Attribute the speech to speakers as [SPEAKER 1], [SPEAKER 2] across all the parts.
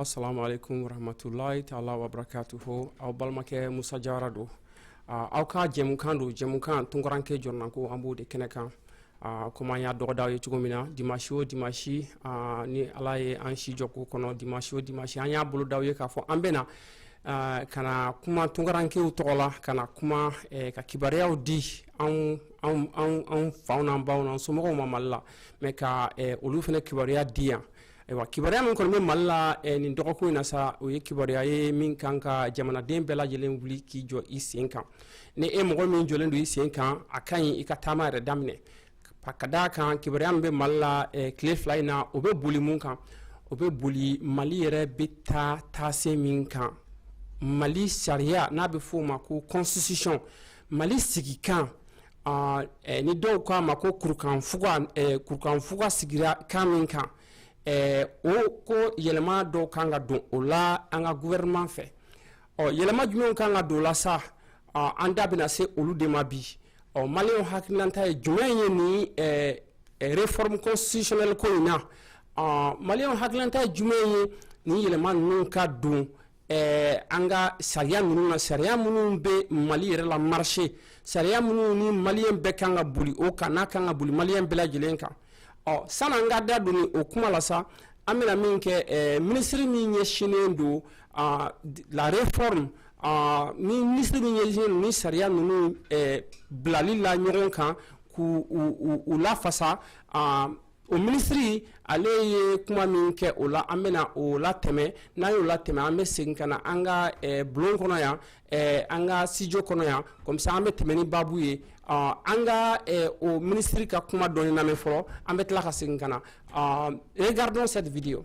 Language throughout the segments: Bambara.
[SPEAKER 1] assalamu alaikum warahmatullahi ta'ala wa barakatuhu aw balimakɛ musa jara don aw ka jɛmukan don jɛmukan tunkaranke jɔrɔnanko an b'o de kɛnɛ kan komi an y'a dɔgɔda aw ye cogo min na dimasi o dimasi ni ala ye an si jɔ ko kɔnɔ dimasi o dimasi an y'a boloda aw ye k'a fɔ an bɛna Eh, ka na kuma tunkarankew tɔgɔ la ka na kuma eh, ka kibaruyaw di anw anw anw anw faw n'an baw n'an somɔgɔw ma mali la mais ka eh, olu fana kibaruya di yan Ayiwa kibaruya min kɔni bɛ mali la eh, nin dɔgɔkun in na sa o ye kibaruya ye min kan ka jamanaden bɛɛ lajɛlen wuli k'i jɔ i sen kan ni e mɔgɔ min jɔlen don i sen kan a ka ɲi i ka taama yɛrɛ daminɛ ka d'a kan kibaruya min bɛ mali la eh, tile fila in na o bɛ boli mun kan o bɛ boli mali yɛrɛ bɛ taa taase min kan mali sariya n'a bɛ f'o ma ko constitution mali sigikan ni dɔw k'a ma ko kurukan kurukanfuga sigira kan min kan o ko yɛlɛma dɔw kan ka don o la an ka gouvernement fɛ ɔ yɛlɛma jumɛn kan ka don o la sa an da bɛna se olu de ma bi ɔ maliyɛnw hakililata ye jumɛn ye ni réforme constitutionnelle ko in na maliyɛnw hakililata ye jumɛn ye ni yɛlɛma ninnu ka don ɛɛ an ka sariya ninnu na sariya minnu bɛ mali yɛrɛ la marché sariya minnu ni maliyɛn bɛɛ kan ka boli o kan n'a kan ka boli maliyɛn bɛɛ lajɛlen kan ɔ san'an ka da don o kuma la sa an bɛna min kɛ ɛɛ minisiri min ɲɛsinnen don à la réforme aa ni minisiri min ɲɛsinnen don ni sariya ninnu ɛɛ bilali la ɲɔgɔn kan k'u u u u lafasa aa o minisiri ale ye kuma min kɛ o la an bɛna o latɛmɛ n'an y'o latɛmɛ an bɛ segin ka na an ka eh, bulon kɔnɔ yan eh, an ka studio kɔnɔ yan comme ça an bɛ tɛmɛ ni baabu ye ah, an ka eh, o minisiri ka kuma dɔɔni lamɛn fɔlɔ an bɛ tila ka segin ka na ah, regardons cette vidéo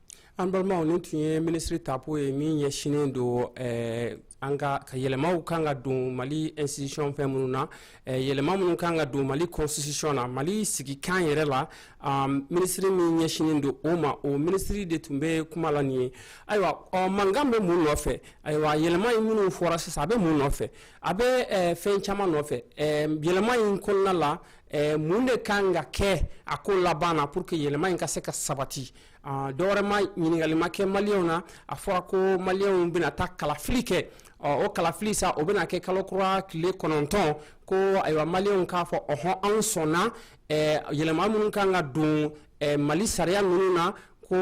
[SPEAKER 1] an balimaw nin tun ye minisiri tapo ye min ɲɛsinnen don eh, an ka ka yɛlɛmaw kan ka don mali institution fɛn minnu na eh, yɛlɛma minnu kan ka don mali constitution na mali sigikan yɛrɛ la um, minisiri min ɲɛsinnen don o ma o minisiri de tun bɛ kuma la nin ye ayiwa ɔ mankan bɛ mun nɔfɛ ayiwa yɛlɛma in minnu fɔra sisan a bɛ mun nɔfɛ a bɛ eh, fɛn caman nɔfɛ eh, yɛlɛma in kɔnɔna la eh, mun de kan ka kɛ a ko laban na pour que yɛlɛma in ka se ka sabati dɔwɛrɛ ma ɲininkali ma kɛ maliyɛnw na a fɔra ko maliyɛnw bɛna taa kalafili kɛ ɔ o kalafili sa o bɛna kɛ kalo kura tile kɔnɔntɔn ko ayiwa maliyɛnw k'a fɔ ɔhɔn anw sɔnna yɛlɛma minnu kan ka don mali sariya ninnu na ko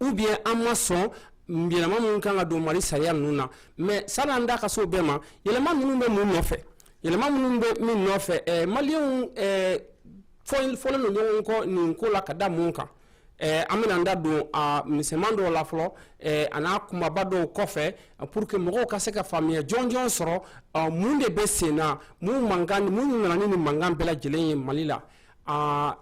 [SPEAKER 1] ou bien an ma sɔn yɛlɛma minnu kan ka don mali sariya ninnu na mais sani an da ka se o bɛɛ ma yɛlɛma ninnu bɛ mun nɔfɛ yɛlɛma ninnu bɛ min nɔfɛ maliyɛnw fɔlen don ɲɔgɔn kɔ nin ko la ka da mun kan Eh, an bɛna an da don a misɛman dɔw la fɔlɔ eh, a n'a kumaba dɔw kɔfɛ pour que mɔgɔw ka se ka faamuya jɔnjɔn sɔrɔ eh, mun de bɛ sen na mun mankan mun nana ni nin mankan bɛɛ lajɛlen ye mali la ah,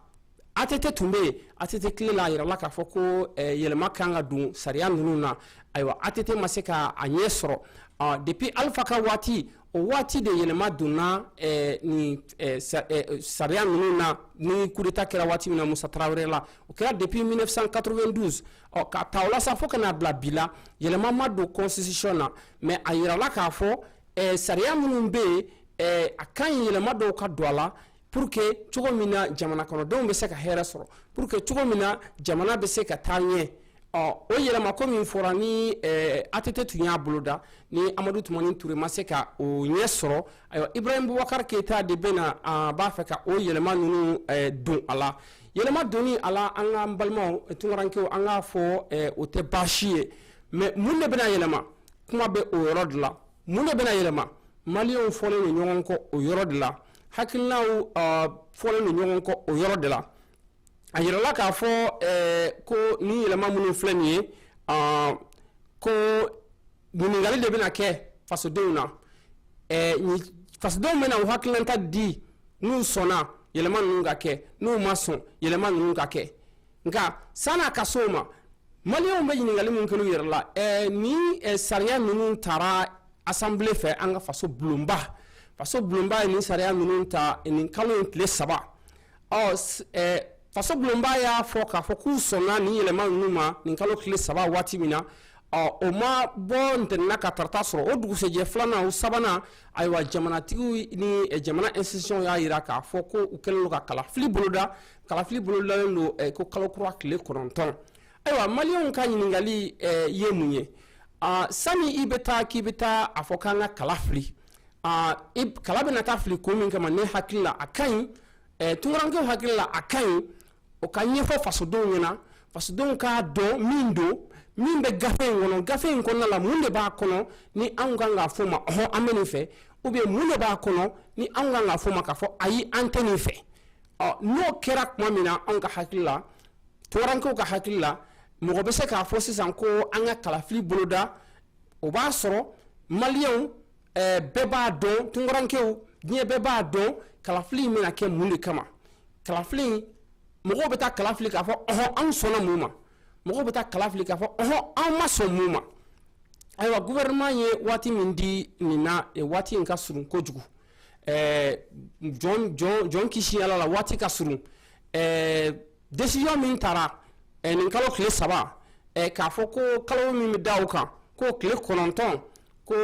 [SPEAKER 1] ATT tun bɛ yen ATT tile la a yirala k'a fɔ ko yɛlɛma ka kan ka don sariya ninnu na ayiwa ATT ma se ka a ɲɛ sɔrɔ ah, depuis Alpha ka waati O waati de yɛlɛma donna eh, ni eh, sa, eh, sariya ninnu na ni coup d'état kɛra waati min na Musa Tarawele la o kɛra depuis 1992 ɔ ka ta o la sa fo ka n'a bila bi la yɛlɛma ma don constitution na mais a yirala k'a fɔ eh, sariya minnu bɛ yen eh, a ka ɲi yɛlɛma dɔw ka don a la pour que cogo min na jamana kɔnɔdenw bɛ se ka hɛrɛ sɔrɔ pour que cogo min na jamana bɛ se ka taa ɲɛ ɔ o yɛlɛma ko min fɔra ni eh, ATT tun y'a boloda ni Amadu Tumani Ture ma se ka o ɲɛ sɔrɔ ayiwa Ibrahim Boubacar Keita de bɛ na a b'a fɛ ka o yɛlɛma ninnu eh, don a la yɛlɛma donni a la an ka n balimaw eh, tunkarankew an k'a fɔ eh, o tɛ baasi ye mais mun de bɛna yɛlɛma kuma bɛ o yɔrɔ de la mun de bɛna yɛlɛma maliyɛnw fɔlen don ɲɔgɔn kɔ o yɔrɔ de la hakilinaw fɔlen don ɲɔgɔn kɔ o yɔrɔ de la a yirala k'a fɔ ko ni yɛlɛma minnu filɛ nin ye ko ɲininkali de bɛna kɛ fasodenw na fasodenw bɛna u hakilinata di n'u sɔnna yɛlɛma ninnu ka kɛ n'u ma sɔn yɛlɛma ninnu ka kɛ nka san'a ka se o ma maliyɛnw bɛ ɲininkali min kɛ u yɛrɛ la ni sariya ninnu taara assemblée fɛ an ka faso bulonba faso bulonba ye nin sariya ninnu ta nin kalo in tile saba ɔ faso bulonba y'a fɔ k'a fɔ k'u sɔnna nin yɛlɛma ninnu ma nin kalo tile saba waati min na ɔ o ma bɔ ntɛnɛn na ka tarata sɔrɔ o dugusɛjɛ filanan o sabanan ayiwa jamanatigiw ni jamana institution y'a yira k'a fɔ ko u kɛlen don ka kalafili boloda kalafili bolodalen don eh, ko kalo kura tile kɔnɔntɔn ayiwa maliyɛnw ka ɲininkali eh, ye mun ye ah, sani i bɛ taa k'i bɛ taa a fɔ k'an ka kala fili ah, kala bɛna taa fili ko min kama ne hakili la a ka ɲi eh, tunkarankew hakili la a ka ɲi o ka ɲɛfɔ fasodenw ɲɛna fasodenw k'a dɔn min don min bɛ gafe in kɔnɔ gafe in kɔnɔna la mun de b'a kɔnɔ ni anw kan k'a fɔ ma ɔhɔn an bɛ nin fɛ ou bien mun de b'a kɔnɔ ni anw kan k'a fɔ ma k'a fɔ ayi an tɛ nin fɛ n'o kɛra tuma min na anw ka hakili la tunkarankew ka hakili la mɔgɔ bɛ se k'a fɔ sisan ko an ka kalafili boloda o b'a sɔrɔ maliyɛnw bɛɛ b'a dɔn tunkarankew diɲɛ bɛɛ b'a dɔn kalafili in bɛna kɛ mun de kama kalafili mɔgɔw bɛ taa kalafili k'a fɔ ɔhɔn anw sɔnna mun ma mɔgɔw bɛ taa kalafili k'a fɔ ɔɔn anw ma sɔn mun ma ayiwa gouvernement ye waati min di nin na waati in ka surun kojugu jɔn kisi ala la waati ka surun décision min tara nin kalo tile saba k'a fɔ ko kalo min bɛ da o kan ko tile kɔnɔntɔn ko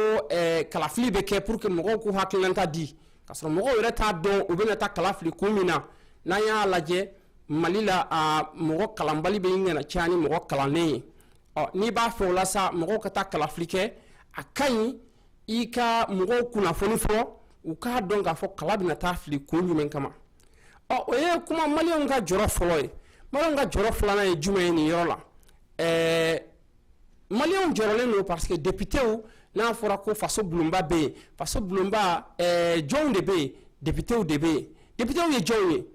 [SPEAKER 1] kalafili bɛ kɛ pour que mɔgɔw k'u hakilinanta di k'a sɔrɔ mɔgɔw yɛrɛ t'a dɔn u bɛna taa kala fili kun min na n'an y'a lajɛ mali la mɔgɔ kalanbali bɛ ɲɛna caya ni mɔgɔ kalannen ye n'i b'a fɛ o la mɔgɔw ka taa kalafili kɛ a ka ɲi i ka mɔgɔw kunnafoni fɔlɔ u k'a dɔn k'a fɔ kala bɛna taa fili kun jumɛn kama ɔ o ye kuma maliyɛnw ka jɔrɔ fɔlɔ ye maliyɛnw ka jɔrɔ filanan ye jumɛn ye nin yɔrɔ la ɛɛ maliyɛnw jɔrɔlen don parce que depitew n'a fɔra ko faso bulonba bɛ yen faso bulonba ɛɛ jɔnw de bɛ yen depitew de bɛ yen depitew ye jɔnw ye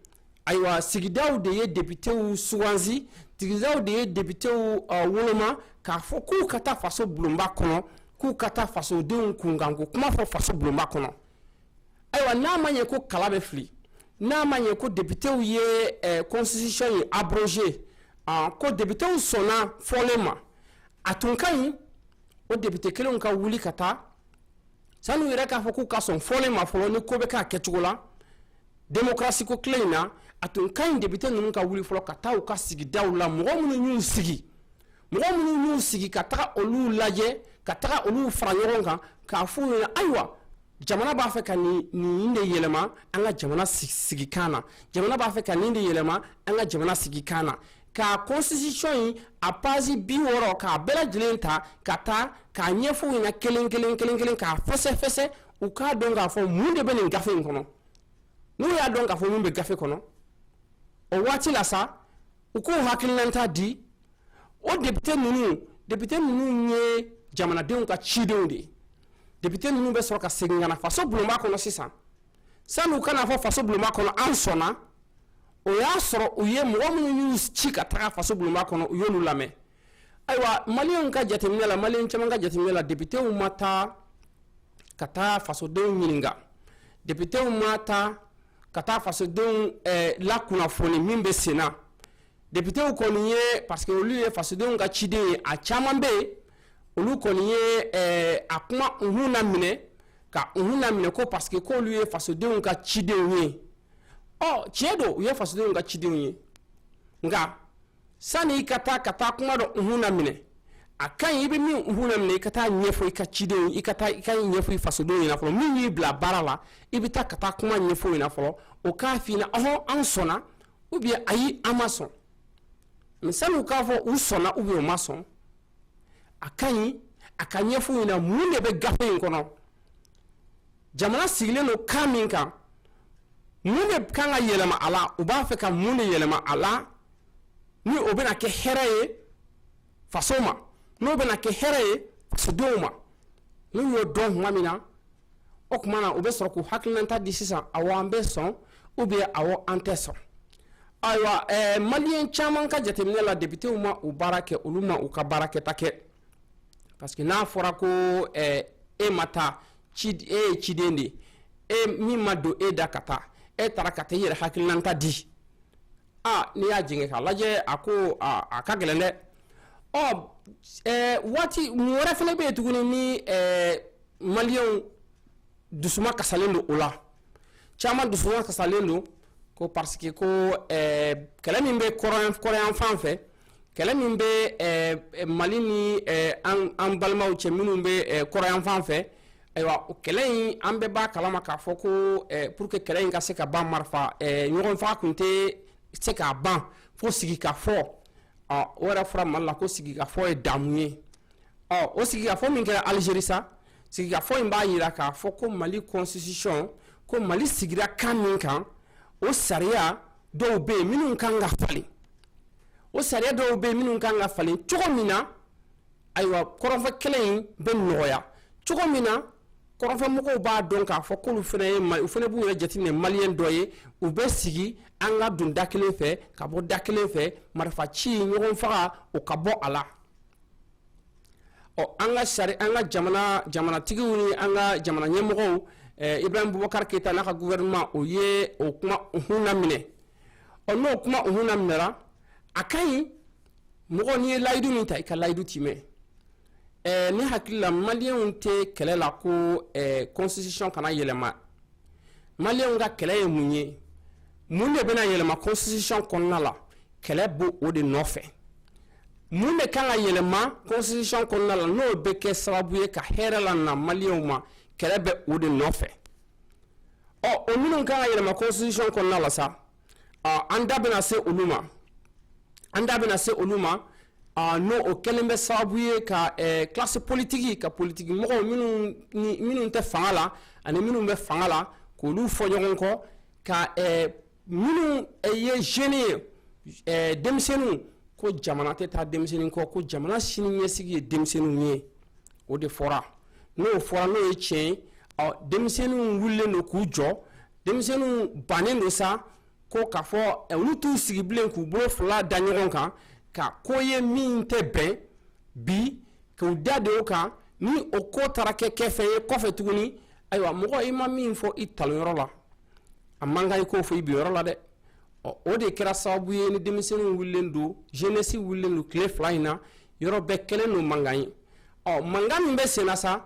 [SPEAKER 1] ayiwa sigidaw de ye depitew sugansi sigidaw de ye depitew woloma k'a fɔ k'u ka taa faso bulonba kɔnɔ k'u ka taa fasodenw kunkanko kuma fɔ faso bulonba kɔnɔ ayiwa n'a ma ɲɛ ko kala bɛ fili n'a ma ɲɛ ko depitew ye constitution in abrogé ko depitew sɔnna fɔlen ma a tun ka ɲi o depite kelenw ka wuli ka taa sani u yɛrɛ k'a fɔ k'u ka sɔn fɔlen ma fɔlɔ ni ko bɛ k'a kɛcogo la demokarasiko tile in na a tun ka ɲi depite ninnu ka wuli fɔlɔ ka taa u ka sigidaw la mɔgɔ minnu y'u sigi mɔgɔ minnu y'u sigi ka taga olu lajɛ ka taga olu fara ɲɔgɔn kan k'a f'u ɲɛna ayiwa jamana b'a fɛ ka nin nin de yɛlɛma an ka jamana sigikan na jamana b'a fɛ ka nin de yɛlɛma an ka jamana sigikan na ka constitution in a page bi wɔɔrɔ k'a bɛɛ lajɛlen ta ka taa k'a ɲɛfɔ u ɲɛna kelen kelen kelen kelen k'a fɛsɛfɛsɛ u k'a dɔn k'a fɔ mun de bɛ nin gafe in kɔnɔ n'u y'a dɔn k'a fɔ mun bɛ gafe kɔnɔ o waati la sa u k'u hakilinanta di o depite ninnu depite ninnu ye jamanadenw ka cidenw de ye depite ninnu bɛ sɔrɔ ka segin ka na faso bulonba kɔnɔ sisan sani u ka n'a fɔ faso bulonba kɔnɔ an sɔnna o y'a sɔrɔ u ye mɔgɔ minnu y'u ci ka taga faso bulonba kɔnɔ u y'olu lamɛn ayiwa maliyɛnw ka jateminɛ la maliyɛn caman ka jateminɛ la depitew ma taa ka taa fasodenw ɲininka depitew ma taa ka taa fasodenw eh, lakunnafoni min bɛ senna depitew kɔni ye parce que olu ye fasodenw ka cidenw ye a caman bɛ yen olu kɔni ye eh, a kuma unhun naminɛ ka unhun naminɛ ko parce que k'olu ye fasodenw ka cidenw ye ɔ tiɲɛ don u ye fasodenw ka cidenw ye nka sani i ka taa ka taa kuma dɔ unhun naminɛ a ka ɲi i bɛ min unhun naminɛ i ka taa a ɲɛfɔ i ka cidenw i ka taa i k'a ɲɛfɔ i fasodenw ɲɛna fɔlɔ min y'i bila baara la i bɛ taa ka taa kuma ɲɛfɔ u ɲɛna fɔlɔ o k'a f'i ɲɛna ɔhɔn an sɔnna ou bien ayi an ma sɔn mais sani u k'a fɔ u sɔnna ou bien u ma sɔn a ka ɲi a ka ɲɛfɔ u ɲɛna mun de bɛ gafe in kɔnɔ jamana sigilen don kan min kan mun de kan ka yɛlɛma a la u b'a fɛ ka mun de yɛlɛma a la ni o bɛna kɛ hɛrɛ ye faso ma n'o bɛna kɛ hɛrɛ ye fasodenw ma n'u y'o dɔn tuma min na o tuma na u bɛ sɔrɔ k'u hakilinata di sisan awɔ an bɛ sɔn ou bien awɔ an tɛ sɔn ayiwa ɛɛ maliyɛn caman ka jateminɛ la depitew ma u baara kɛ olu ma u ka baara kɛta kɛ parce que n'a fɔra ko ɛɛ e ma taa ci e ye ciden de ye e min ma don e da ka taa e taara ka taa i yɛrɛ hakilinata di a n'i y'a jɛngɛ k'a lajɛ a ko a a ka gɛlɛn dɛ ɔ ɛɛ waati mun wɛrɛ fana bɛ yen tuguni ni ɛɛ maliens dusuma kasalen don o la caman dusuma kasalen don ko parce que ko eh, kɛlɛ min bɛ kɔrɔnyanfan fɛ kɛlɛ min bɛ eh, mali ni eh, an an balimaw cɛ minnu bɛ kɔrɔnyanfan fɛ ayiwa o kɛlɛ in an bɛɛ b'a kalama k'a fɔ ko pour que kɛlɛ in ka se ka ban marifa ɲɔgɔn faga tun tɛ se k'a ban fo sigikafɔ o yɛrɛ fɔra mali la ko sigikafɔ ye damu ye ɔ o sigikafɔ min kɛra alizeri sa sigikafɔ in b'a jira k'a fɔ ko mali constitution ko mali sigira kan min kan o sariya dɔw bɛ yen minnu kan ka falen o sariya dɔw bɛ yen minnu kan ka falen cogo min na ayiwa kɔrɔnfɛ kɛlɛ in bɛ nɔgɔya cogo min na kɔrɔnfɛmɔgɔw b'a dɔn k'a fɔ k'olu fana ye u fana b'u yɛrɛ jateminɛ maliyɛn dɔ ye u bɛ sigi an ka don da kelen fɛ ka bɔ da kelen fɛ marifa ci ɲɔgɔn faga o ka bɔ a la ɔ an ka sari an ka jamana jamanatigiw ni an ka jamana ɲɛmɔgɔw eh, ibrahim bubakar keyita n'a ka gouvernement o ye o kuma unhun laminɛ ɔ n'o kuma unhun laminɛra a ka ɲi mɔgɔ n'i ye layidu min ta i ka layidu tiimɛ eh, ne hakili la maliyɛnw tɛ kɛlɛ la ko eh, constitution kana yɛlɛma maliyɛnw ka kɛlɛ ye mun ye mun de bɛna yɛlɛma constitution kɔnɔna la kɛlɛ b'o de nɔfɛ mun de kan ka yɛlɛma constitution kɔnɔna la n'o bɛ kɛ sababu ye ka hɛrɛ lana maliyɛnw ma kɛlɛ bɛ o de nɔfɛ ɔ o minnu kan ka yɛlɛma constitution kɔnɔna la sa ɔ an da bɛna se olu ma an da bɛna se olu ma ɔ n'o o kɛlen bɛ sababu ye ka ɛɛ classe politique ka politiki mɔgɔw minnu ni minnu tɛ fanga la ani minnu bɛ fanga la k'olu fɔ ɲɔgɔn kɔ ka ɛɛ minnu ye jeunes ye ɛɛ denmisɛnninw ko jamana tɛ taa denmisɛnnin kɔ ko jamana sini ɲɛsigi ye denmisɛnninw ye o de fɔra n'o fɔra n'o ye tiɲɛ ye ɔ denmisɛnninw wulilen don k'u jɔ denmisɛnninw bannen don sa ko k'a fɔ eh, olu t'u sigi bilen k'u bolo fila da ɲɔgɔn kan ka ko ye min tɛ bɛn bi k'u da de o kan ni o ko taara kɛ kɛ fɛn ye kɔfɛ tuguni ayiwa mɔgɔ i ma min fɔ i talonyɔrɔ la a man kan i k'o fɔ i binyɔrɔ la dɛ ɔ o de kɛra sababu ye ni denmisɛnninw wulilen don jenɛsi wulilen don tile fila in na yɔrɔ bɛɛ kɛlen don mankan ye ɔ mankan min bɛ senna sa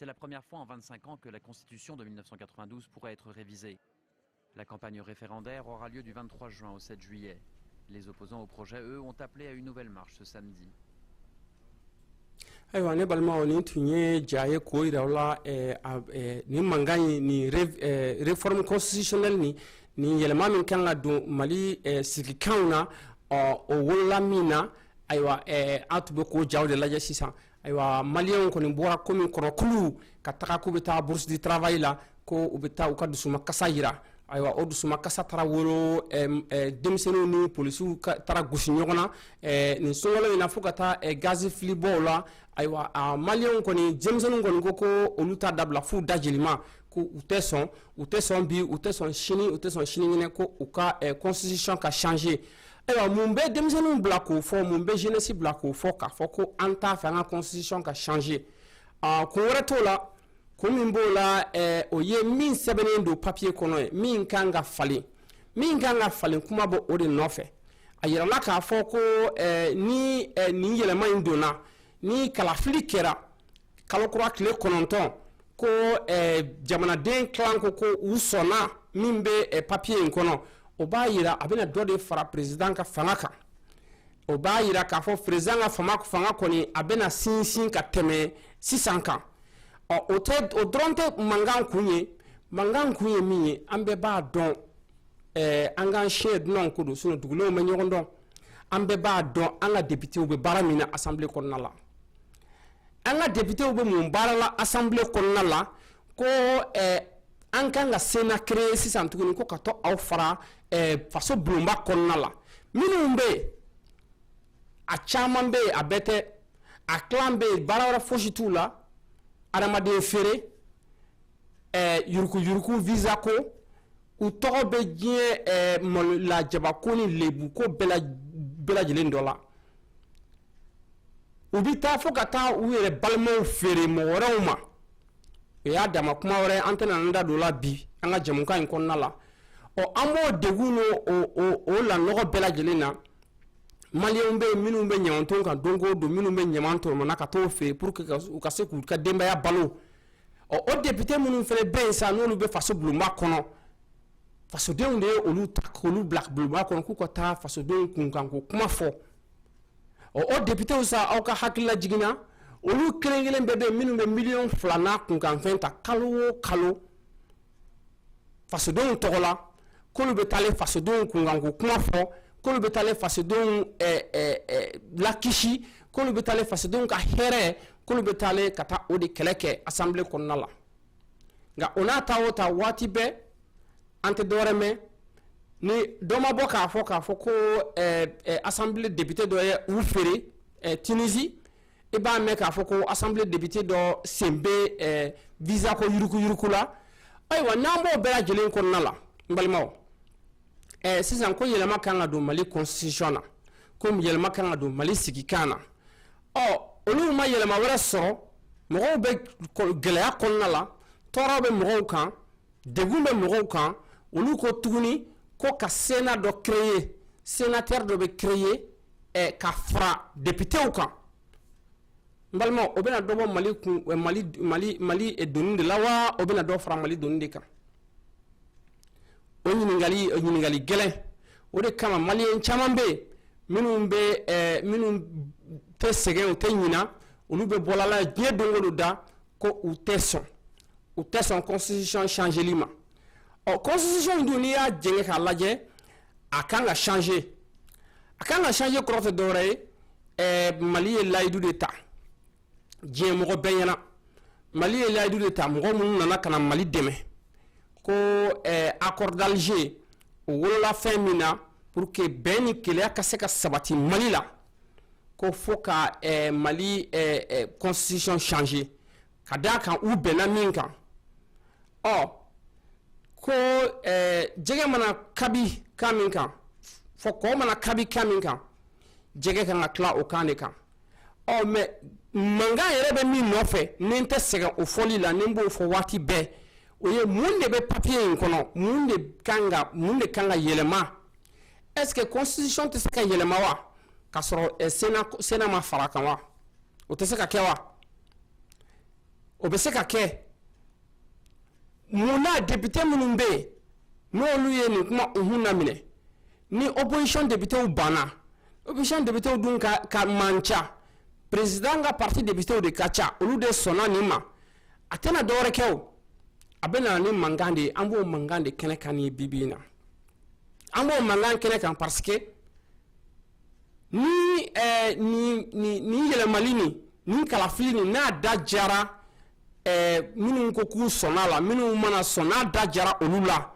[SPEAKER 2] C'est la première fois en 25 ans que la Constitution de 1992 pourrait être révisée. La campagne référendaire aura lieu du 23 juin au 7 juillet. Les opposants au projet, eux, ont appelé à une nouvelle marche ce samedi.
[SPEAKER 1] ayiwa ne balimaw nin tun ye ja ye k'o yira aw la eh, eh, nin mankan ye nin eh, réforme constitutionnelle ni nin yɛlɛma min kan ka don mali sigikanw na ɔ o wolola min na ayiwa an tun bɛ k'o jaw de lajɛ sisan ayiwa maliyɛnw kɔni bɔra komi kɔnɔ kulu ka taga k'u bɛ taa bourse du travail la ko u bɛ taa u ka dusuma kasa yira ayiwa o dusuma kasa taara wolo denmisɛnninw ni polisiw taara gosi ɲɔgɔn na nin sogɔlɔ in na fo ka taa gazi fili mɔgɔw la ayiwa maliyɛnw kɔni denmisɛnninw kɔni ko ko olu t'a dabila f'u da jelima ko u tɛ sɔn u tɛ sɔn bi u tɛ sɔn sini u tɛ sɔn sinikɛnɛ ko u ka constitution ka changer Ayiwa mun bɛ denmisɛnninw bila k'o fɔ mun bɛ jeunesse bila k'o fɔ k'a fɔ ko an t'a fɛ an ka constitution ka changer aa kun wɛrɛ t'o la kun min b'o la ɛɛ o ye min sɛbɛnnen don papier kɔnɔ ye min kan ka falen min kan ka falen kuma bɛ o de nɔfɛ a yirala k'a fɔ ko ɛɛ ni ɛɛ nin yɛlɛma in donna ni kalafili kɛra kalo kura tile kɔnɔntɔn ko eh, jamanaden tilan ko ko u sɔnna min bɛ eh, papiye in kɔnɔ o b'a yira a bɛna dɔ de fara perezidan ka fanga kan o b'a yira k'a fɔ perezidan ka fanga fanga kɔni a bɛna sinsin ka tɛmɛ sisan kan ɔ o tɛ o dɔrɔn tɛ mankan kun ye mankan kun ye min ye an bɛɛ b'a dɔn eh, an k'an siɲɛ dunanw ko don sinɔn dugulenw bɛ ɲɔgɔn dɔn an bɛɛ b'a dɔn an ka depitew bɛ baara min na asanbile kɔnɔna la an ka depitew bɛ mun baara la asanbile kɔnɔna la ko an ka kan ka sena kere sisan tuguni ko ka to aw fara faso bulonba kɔnɔna la minnu bɛ yen a caman bɛ yen a bɛɛ tɛ a tilan bɛ yen baara wɛrɛ fosi t'u la adamaden feere yuruguyurugu visa ko u tɔgɔ bɛ diɲɛ malola jabako ni lebu ko bɛɛ lajɛlen dɔ la u bɛ taa fo ka taa u yɛrɛ balimaw feere mɔgɔ wɛrɛw ma o y'a dama kuma wɛrɛ an tɛna an da don o la bi an ka jamukan in kɔnɔna la ɔ an b'o degun n'o o lanɔgɔ bɛɛ lajɛlen na maliyɛnw bɛ yen minnu bɛ ɲamanton kan don o don minnu bɛ ɲaman tɔmɔna ka t'o feere pour que u ka se k'u ka denbaya balo ɔ o député minnu fana bɛ yen sa n'olu bɛ faso bulonba kɔnɔ fasodenw de ye olu ta k'olu bila bulonba kɔnɔ k'u ka taa fasodenw kunkanko kuma fɔ ɔ o depitew sa aw ka hakililajigin na olu kelen kelen bɛɛ bɛ yen minnu bɛ miliyɔn fila n'a kunkanfɛn ta kalo o kalo fasodenw tɔgɔ la k'olu bɛ taalen fasodenw kunkanko kuma fɔ k'olu bɛ taalen fasodenw eh, eh, eh, lakisi k'olu bɛ taalen fasodenw ka hɛrɛ k'olu bɛ taalen ka taa o de kɛlɛ kɛ asanbile kɔnɔna la nka o n'a ta o ta waati bɛɛ an tɛ dɔwɛrɛ mɛn ni dɔ ma bɔ k'a fɔ k'a fɔ ko asanbilen depite dɔ ye u feere tinisi i b'a mɛn k'a fɔ ko asanbilen depite dɔ sen bɛ visa ko yurukuyuruku la ayiwa n'an b'o bɛɛ lajɛlen kɔnɔna la n balimaw sisan ko yɛlɛma kan ka don mali constitution na ko yɛlɛma kan ka don mali sigikan na ɔ olu ma yɛlɛma wɛrɛ sɔrɔ mɔgɔw bɛ gɛlɛya kɔnɔna la tɔɔrɔ bɛ mɔgɔw kan Degun bɛ mɔgɔw kan olu ko tuguni ko ka sénat dɔ créer sénateur dɔ bɛ créer ka fara depitew kan balima o bɛna dɔ bɔ mali mali doni de la wa o bɛna dɔ fara mali doni de kan o ɲininkali ɲininkali gɛlɛn o de kama maliyɛn caman bɛ minnu bɛ minnu tɛ sɛgɛn u tɛ ɲina olu bɛ bɔlala diɲɛ don o don da ko u tɛ sɔn u tɛ sɔn constitution changeli ma ɔ constitution in dun n'i y'a jɛngɛ k'a lajɛ a kan ka changer a kan ka changer kɔrɔ tɛ dɔwɛrɛ ye ɛɛ mali ye layidu de ta diɲɛ mɔgɔ bɛɛ ɲɛna mali ye layidu de ta mɔgɔ minnu nana ka na mali dɛmɛ ko ɛɛ accord d'alger o wolola fɛn min na pour que bɛn ni kelenya ka se ka sabati mali la ko fo ka eh, mali eh, eh, constitution changer ka d'a kan u bɛnna min kan ɔ ko eh, jɛgɛ mana kabi kan min kan fo kɔ mana kabi kan min kan jɛgɛ kan ka tila o kan de kan ɔ oh, mais mankan yɛrɛ bɛ min nɔfɛ ni n tɛ sɛgɛn o fɔli la ni n b'o fɔ waati bɛɛ o ye mun de bɛ papiye in kɔnɔ mun de kan ka mun de kan ka yɛlɛma est-ce que constitution tɛ se ka yɛlɛma wa ka sɔrɔ sénat ma fara kan wa o tɛ se ka kɛ wa o bɛ se ka kɛ mun na député minnu bɛ yen n'olu ye nin kuma u hun laminɛ ni opposition députéw banna opposition députéw dun ka man ca président ka parti députéw de ka ca olu de sɔnna nin ma a tɛna dɔwɛrɛ kɛ o a bɛ na ni mankan de ye an b'o mankan de kɛnɛ kan ye bi bi in na an b'o mankan kɛnɛ kan parce que ni eh, ni ni ni yɛlɛmali ni ni kalafili ni n'a da jara eh, minnu ko k'u sɔnna la minnu mana sɔn n'a da jara olu la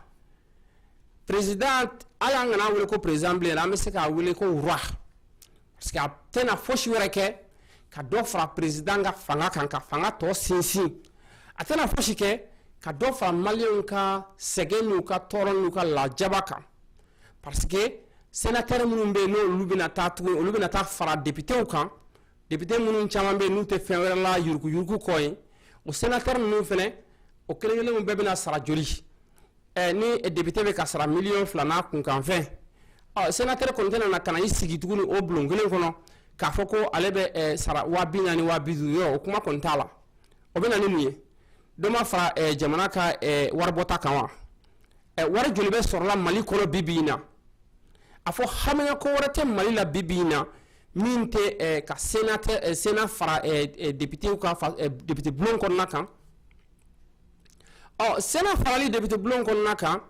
[SPEAKER 1] président hali an kana wele ko président bilen an bɛ se k'a wele ko roi parce que a tɛna fosi wɛrɛ kɛ ka dɔ fara président ka fanga kan ka fanga tɔ sinsin a tɛna fosi kɛ ka dɔ fara maliyɛnw ka sɛgɛn n'u ka tɔɔrɔ n'u ka lajaba kan parce que sénateur minnu bɛ yen n'olu bɛna taa tuguni olu bɛna taa fara députéw kan député minnu caman bɛ yen n'u tɛ fɛn wɛrɛ la yuruguyurugu kɔ ye o sénateur ninnu fɛnɛ o kelen-kelenw bɛɛ bɛna sara joli ɛ ni député bɛ ka sara miliyɔn fila n'a kunkanfɛn ɔ sénateur kɔni tɛna na ka na i sigi tuguni o bulon kelen kɔnɔ k'a fɔ ko ale bɛ ɛ sara waa bi naani waa bi duuru yɔrɔ o kuma kɔni t'a la o bɛ na ni mun ye dɔ ma fara ɛ jamana ka ɛ waribɔta kan wa ɛ wari joli bɛ sɔrɔla mali kɔnɔ bi bi in na a fɔ hamiya ko wɛrɛ tɛ mali la bi bi in na min tɛ ɛ ka sénat ɛ sénat fara ɛ ɛ députéw ka fa ɛ député bulon kɔnɔna kan Ɔ sénat farali député bulon kɔnɔna kan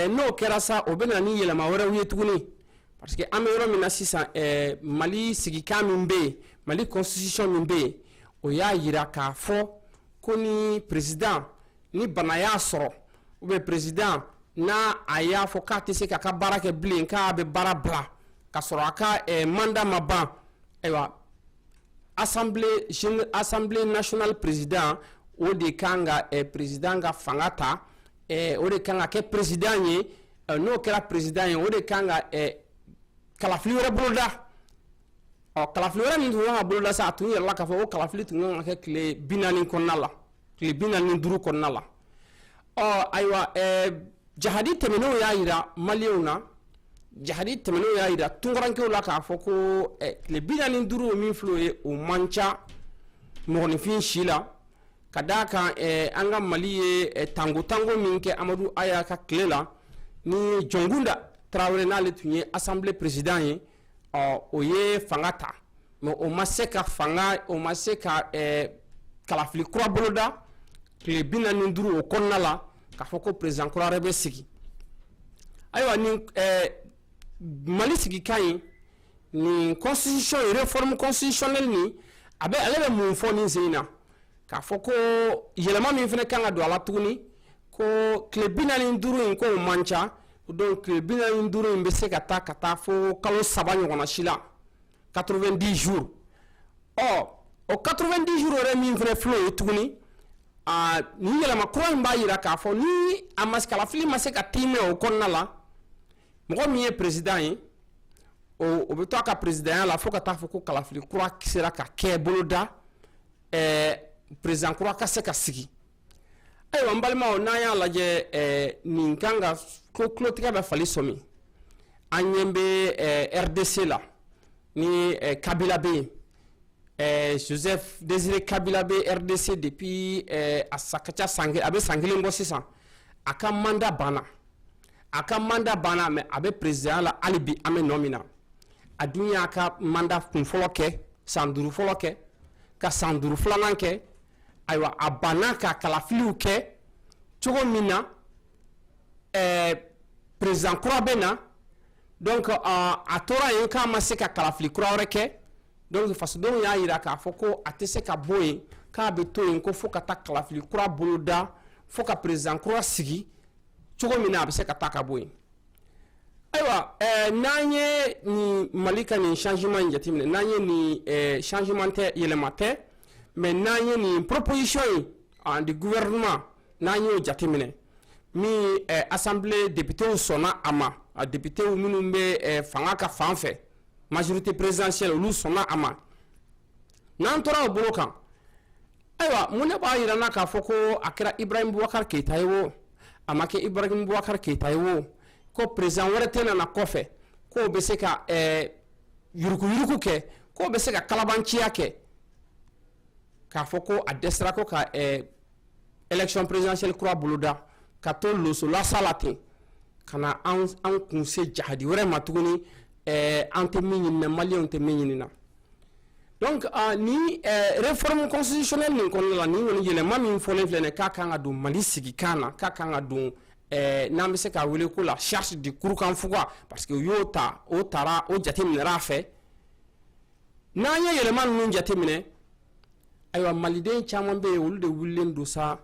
[SPEAKER 1] n'o kɛra sa o bɛ na ni yɛlɛma wɛrɛw ye tuguni parce que an bɛ yɔrɔ min na sisan mali sigikan min bɛ yen mali constitution min bɛ yen o y'a yira k'a fɔ ko ni président ni bana y'a sɔrɔ ou bien président n'a y'a fɔ k'a tɛ se k'a ka baara kɛ bilen k'a bɛ baara bila ka sɔrɔ a ka mandat ma ban ayiwa Assemblée nationale président o de kan ka président ka fanga ta o de kan ka kɛ président ye n'o kɛra président ye o de kan ka kalafili wɛrɛ boloda ɔ kalafili wɛrɛ min tun kan ka boloda sa a tun yirala k'a fɔ ko kalafili tun kan ka kɛ tile bi naani kɔnɔna la tile bi naani ni duuru kɔnɔna la ɔ ayiwa ɛɛ jahadi tɛmɛnenw y'a yira maliyɛnw na jahadi tɛmɛnenw y'a yira tunkarankew la k'a fɔ ko ɛɛ tile bi naani ni duuru min filɛ o ye o man ca mɔgɔninfin si la ka d'a kan ɛɛ an ka mali ye ɛɛ tango tango min kɛ amadu aya ka tile la ni jɔnkunda tarawele n'ale tun ye assemblée président ye ɔ o ye fanga ta mɛ o ma se ka fanga o ma se ka eh, kalafili kura boloda tile bi naani ni duuru o kɔnɔna la k'a fɔ ko perezidan kura wɛrɛ bɛ sigi ayiwa nin eh, mali sigikan ye nin constitution ye réforme constitutionnelle nin a bɛ ale bɛ mun fɔ nin sen in na k'a fɔ ko yɛlɛma min fana kan ka don a la tuguni ko tile bi naani duuru in k'o man ca donc tile bi naani duuru in bɛ se ka taa ka taa fo kalo saba ɲɔgɔnna si la quatre-vingt-dix jours ɔ o quatre-vingt-dix jours yɛrɛ min fana filɛ o ye tuguni ni yɛlɛma kura in b'a jira k'a fɔ ni a ma kalafili ma se ka tɛmɛ o kɔnɔna la mɔgɔ min ye perezidan ye o bɛ to a ka perezidanya la fo ka taa fɔ ko kalafili kura sera ka kɛ boloda perezidan kura ka se ka sigi ayiwa an balimaw n'an y'a lajɛ nin kan ka ko tulotigɛ bɛ fali sɔmi an ɲɛ bɛ rdc la ni kabila bɛ yen joseph désiré kabila bɛ rdc depuis a san ka ca san a bɛ san kelen bɔ sisan a ka manda banna a ka manda banna mɛ a bɛ perezidanya la hali bi an bɛ nɔ min na a dun y'a ka manda kun fɔlɔ kɛ san duuru fɔlɔ kɛ ka san duuru filanan kɛ ayiwa a banna ka kalafiliw kɛ cogo min na ɛɛ eh, perezidan kura bɛ na donc uh, a tora yen k'a ma se ka kalafili kura wɛrɛ kɛ donc fasodenw y'a jira k'a fɔ ko a tɛ se ka bɔ yen k'a bɛ to yen ko fo ka taa kalafili kura boloda fo ka perezidan kura sigi cogo min na a bɛ se ka taa ka bɔ yen ayiwa ɛɛ eh, n'an ye nin mali ka nin changement in jateminɛ n'an ye nin ɛɛ eh, changement tɛ yɛlɛma tɛ. mɛ n'an ye nin proposition ye du gouvernement n'an y'o jateminɛ min assemblée depitew sɔnna a ma a depitew minnu bɛ fanga ka fan fɛ majorité présidentielle olu sɔnna a ma n'an tora o bolo kan ayiwa mun ne b'a jira an na k'a fɔ ko a kɛra ibrahim boubacar keita ye wo a ma kɛ ibrahim boubacar keita ye wo ko perezidan wɛrɛ tɛna na kɔfɛ k'o bɛ se ka yuruguyurugu kɛ k'o bɛ se ka kalabanciya kɛ k'a fɔ ko a dɛsɛra ko ka ɛɛ élection présidentielle kura boloda ka to losolasa la ten ka na an an kun se jahadi wɛrɛ ma tuguni ɛɛ an tɛ min ɲini na maliyɛnw tɛ min ɲini na donc uh, ni uh, réforme constitutionnelle nin kɔnɔna la nin kɔni yɛlɛma min fɔlen filɛ nin k'a kan ka don mali sigikan na k'a kan ka don ɛɛ n'an bɛ se k'a wele ko la charte de kurukanfuga parce que u y'o ta o taara o jate minɛra a fɛ n'an ye yɛlɛma ninnu jate minɛ ayiwa maliden caman bɛ yen olu de wulilen don sa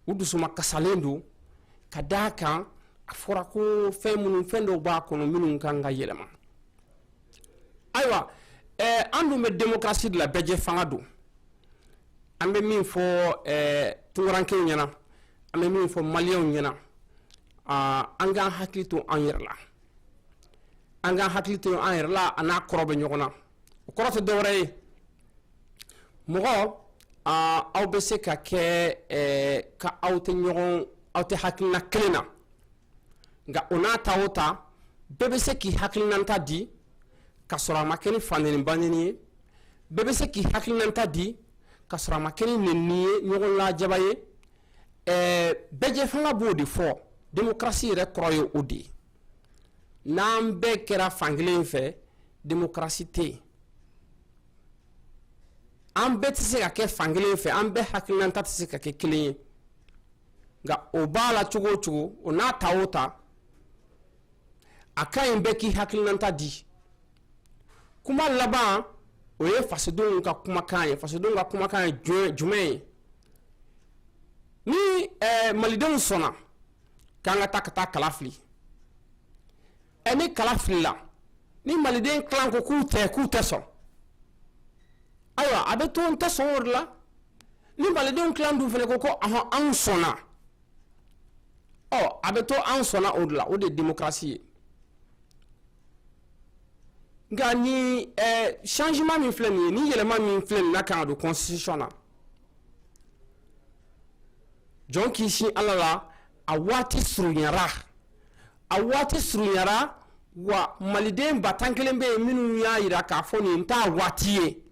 [SPEAKER 1] u dusuma kasalen don ka d'a kan a fɔra ko fɛn minnu fɛn dɔw b'a kɔnɔ minnu kan ka yɛlɛma ayiwa ɛɛ an dun bɛ demokarasi de la bɛɛjɛ fanga don an bɛ min fɔ eh, tunkarankew ɲɛna an bɛ min fɔ maliyɛnw ɲɛna ah, an k'an hakili to an yɛrɛ la an k'an hakili to an yɛrɛ la a n'a kɔrɔ bɛ ɲɔgɔn na o kɔrɔ tɛ dɔwɛrɛ ye mɔgɔ ah, aw bɛ se ka kɛ eh, ka aw tɛ ɲɔgɔn aw tɛ hakilina kelen na nka o n'a ta o ta bɛɛ bɛ se k'i hakilinanta di ka sɔrɔ a ma kɛ ni fanɛni banɛni ye bɛɛ bɛ se k'i hakilinanta di ka sɔrɔ a ma kɛ ni nɛni ye ɲɔgɔnlajaba ye ɛɛ bɛɛjɛ fanga b'o de fɔ demokarasi yɛrɛ kɔrɔ ye o de ye n'an bɛɛ kɛra fankelen fɛ demokarasi tɛ yen an bɛɛ tɛ se ka kɛ fankelen fɛ an bɛɛ hakilinanta tɛ se ka kɛ kelen ye nka o b'a la cogo o cogo o n'a ta o ta a ka ɲi bɛɛ k'i hakilinanta di kuma laban o ye fasodenw ka kumakan ye fasodenw ka kumakan ye jumɛn ye ni eh, malidenw sɔnna k'an ka taa ka taa kala fili Ɛ ni kala filila ni maliden kilan ko k'u tɛ k'u tɛ sɔn ayiwa a bɛ to n tɛ sɔn o de la ni malidenw tila dun fana ko ko ah anw sɔnna a bɛ to anw sɔnna o de la o de ye demokarasi ye nka ni changement min filɛ nin ye ni yɛlɛma min filɛ nin n'a kan ka don constitution na jɔn k'i sin ala la a waati surunyara a waati surunyara wa maliden ba tan kelen bɛ yen minnu y'a jira k'a fɔ nin t'a waati ye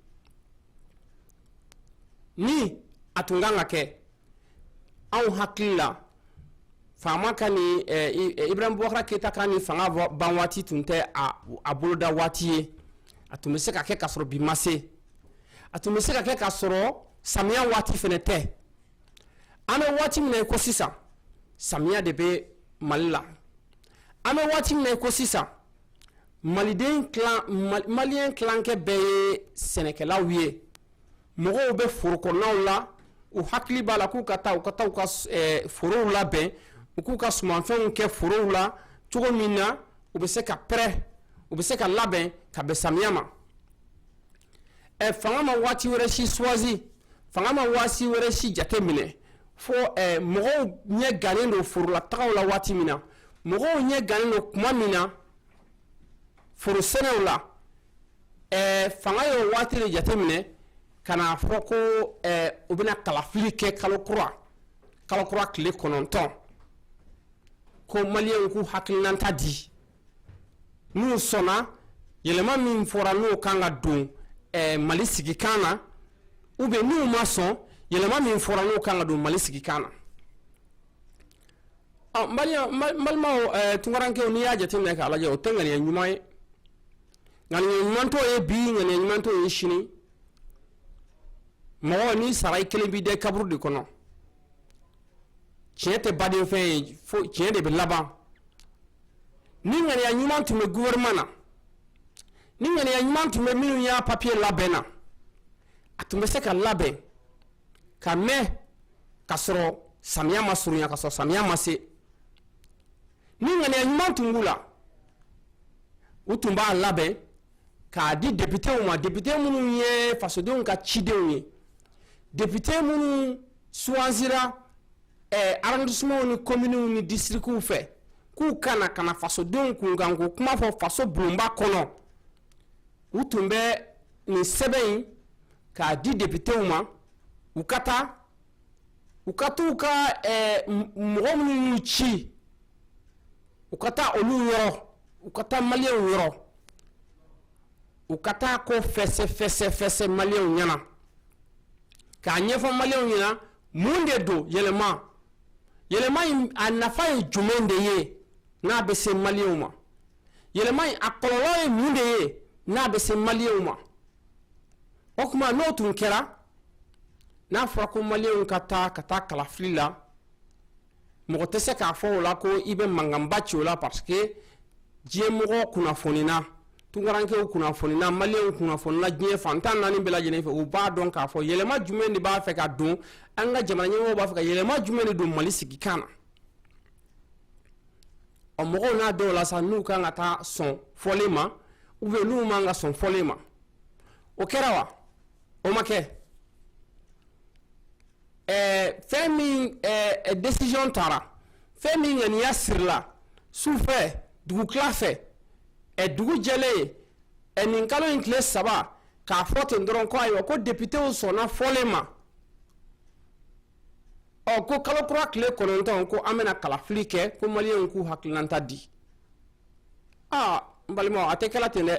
[SPEAKER 1] ni a tun kan ka kɛ anw hakili la faama ka ni eh, eh, ibrahim bubakara keyita ka ni fanga ban waati tun tɛ a boloda waati ye a tun bɛ se ka kɛ k'a sɔrɔ bi ma se a tun bɛ se ka kɛ k'a sɔrɔ samiya waati fana tɛ an bɛ waati min na i ko sisan samiya de bɛ mali la an bɛ waati min na i ko sisan maliyɛn kilankɛ bɛɛ ye sɛnɛkɛlaw ye mɔgɔw bɛ foro kɔnɔnaw la u hakili b'a la k'u ka taa u ka taa u ka forow labɛn u k'u ka sumanfɛnw kɛ forow la cogo min na u bɛ se ka pɛrɛ u bɛ se ka labɛn ka bɛn samiya ma fanga ma waati wɛrɛ si choisi fanga ma waati wɛrɛ si jate minɛ fo mɔgɔw ɲɛ gannen don forola tagaw la waati min na mɔgɔw ɲɛ gannen don tuma min na foro sɛnɛw la fanga ye waati de jate minɛ ka n'a fɔ ko u bɛna kalafili kɛ kalo kura kalo kura tile kɔnɔntɔn ko maliyɛnw k'u hakilinata di n'u sɔnna yɛlɛma min fɔra n'o kan ka don eh, mali sigikan na ou bien n'u ma sɔn yɛlɛma min fɔra n'o kan ka don mali sigikan na ɔ n balimaw n balimaw eh, tunkarankew n'i y'a jateminɛ k'a lajɛ o tɛ ŋaniya ɲuman ye ŋaniya ɲuman t'o ye bi ŋaniya ɲuman t'o ye sini mɔgɔ n'i sara i kelen b'i da kaburu de kɔnɔ tiɲɛ tɛ badenfɛn ye fo tiɲɛ de bɛ laban ni ŋaniya ɲuman tun bɛ gouvernement na ni ŋaniya ɲuman tun bɛ minnu y'a papier labɛn na a tun bɛ se ka labɛn ka mɛn ka sɔrɔ samiya ma surunya ka sɔrɔ samiya ma se ni ŋaniya ɲuman tun b'u la u tun b'a labɛn k'a di depitew ma depite minnu ye fasodenw ka cidenw ye depite minnu choisira ɛɛ arrondissementw ni kominiw ni disirikiw fɛ k'u ka na ka na fasodenw kunkanko kuma fɔ faso bulonba kɔnɔ u tun bɛ nin sɛbɛn in k'a di depitew ma u ka taa u ka t'u ka ɛɛ mɔgɔ minnu y'u ci u ka taa olu yɔrɔ u ka taa maliyɛnw yɔrɔ u ka taa ko fɛsɛ fɛsɛ fɛsɛ maliyɛnw ɲɛna k'a ɲɛfɔ maliyɛnw ɲɛna mun de don yɛlɛma yɛlɛma in a nafa ye jumɛn de ye n'a bɛ se maliyɛnw ma yɛlɛma in a kɔlɔlɔ ye mun de ye n'a bɛ se maliyɛnw ma o tuma n'o tun kɛra n'a fɔra ko maliyɛnw ka taa ka taa kalafili la mɔgɔ tɛ se k'a fɔ o la ko i bɛ mankanba ci o la parce que diɲɛmɔgɔ kunnafonina tunkarankew kunnafonina maliyɛnw kunnafonina diɲɛ fan tan naani bɛɛ lajɛlen fɛ u b'a dɔn k'a fɔ yɛlɛma jumɛn de b'a fɛ ka don an ka jamana ɲɛmɔgɔw b'a fɛ ka yɛlɛma jumɛn de don mali sigikan na ɔ mɔgɔw n'a dɔn o la sa n'u kan ka taa sɔn fɔlen ma ou bien n'u man ka sɔn fɔlen ma o kɛra wa o ma kɛ ɛɛ fɛn min ɛɛ décision taara fɛn min ŋaniya sirila sufɛ dugutila fɛ ɛ dugu jɛlen ɛ nin kalo in tile saba k'a fɔ ten dɔrɔn ko ayiwa ko depitew sɔnna fɔlen ma ɔ ko kalo kura tile kɔnɔntɔn ko an bɛna kalafili kɛ ko maliyɛnw k'u hakilinata di aa n balimaw a tɛ kɛla ten dɛ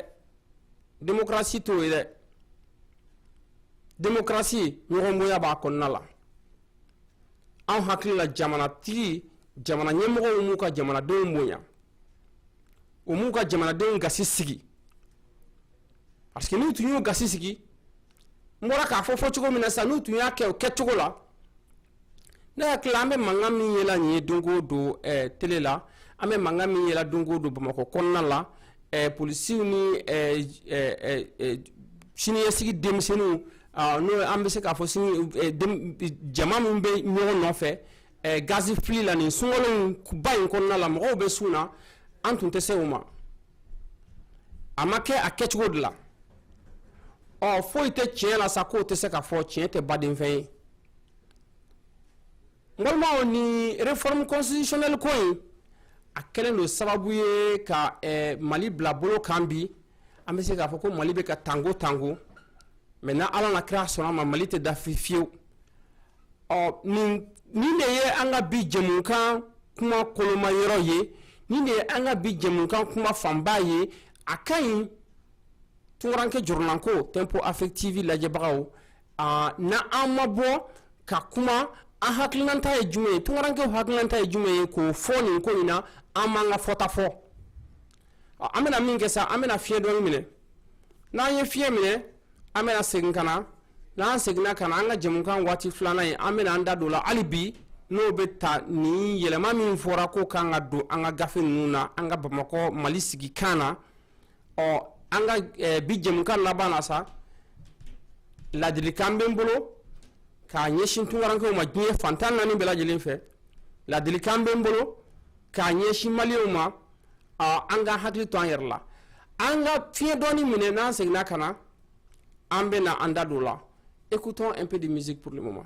[SPEAKER 1] demokarasi t'o ye dɛ demokarasi ɲɔgɔnbonya b'a kɔnɔna la an hakili la jamanatigi jamana ɲɛmɔgɔw m'u ka jamanadenw bonya u m'u ka jamanadenw gasi sigi parce que n'u tun y'u gasi sigi n bɔra k'a fɔ fɔ cogo min na sisan n'u tun y'a kɛ o kɛcogo la Ne hakili la an bɛ mankan min yela nin ye don o don télé la an bɛ mankan min yela don o don bamakɔ kɔnɔna la polisiw ni siniɲɛsigi denmisɛnninw n'o an bɛ se k'a fɔ jama min bɛ ɲɔgɔn nɔfɛ gazi fili la nin sun ba in kɔnɔna la mɔgɔw bɛ sun na an tun tɛ se o ma a ma kɛ a kɛcogo de la ɔ foyi tɛ tiɲɛ la sa k'o tɛ se ka fɔ tiɲɛ tɛ baden fɛn ye Balimaw nin réforme constitutionnelle ko in a kɛlen don sababu ye ka mali bila bolo kan bi an bɛ se k'a fɔ ko mali bɛ ka tango tango mais n' ala n'a kira sɔnna a ma mali tɛ dafiri fiyewu ɔ nin de ye an ka bi jɛmukan kuma koloma yɔrɔ ye nin de ye an ka bi jɛmukan kuma fanba ye a ka ɲi tunkaranke jɔrɔnanko tempo afrique tv lajɛbagaw Aa n an ma bɔ ka kuma an hakilinata ye jumɛn ye tunkarankew hakilinata ye jumɛn ye k'o fɔ nin ko in na an m'an ka fɔta fɔ an bɛna min kɛ sa an bɛna fiɲɛ dɔɔnin minɛ n'an ye fiɲɛ minɛ an bɛna segin ka na n'an seginna ka na an ka jɛmukan waati filanan ye an bɛna an da don la hali bi n'o bɛ ta nin yɛlɛma min fɔra ko k'an ka don an ka gafe ninnu na an ka bamakɔ mali sigikan na ɔ an ka eh, bi jɛmukan laban na sa ladilikan bɛ n bolo k'a ɲɛsin tunkarankew ma diɲɛ fan tan naani bɛɛ lajɛlen fɛ ladilikan bɛ n bolo k'a ɲɛsin maliyɛnw ma ɔ an ka hakili to an yɛrɛ la an ka fiɲɛ dɔɔni minɛ n'an seginna ka na an bɛna an da don o la écoutons un peu de musique pour le moment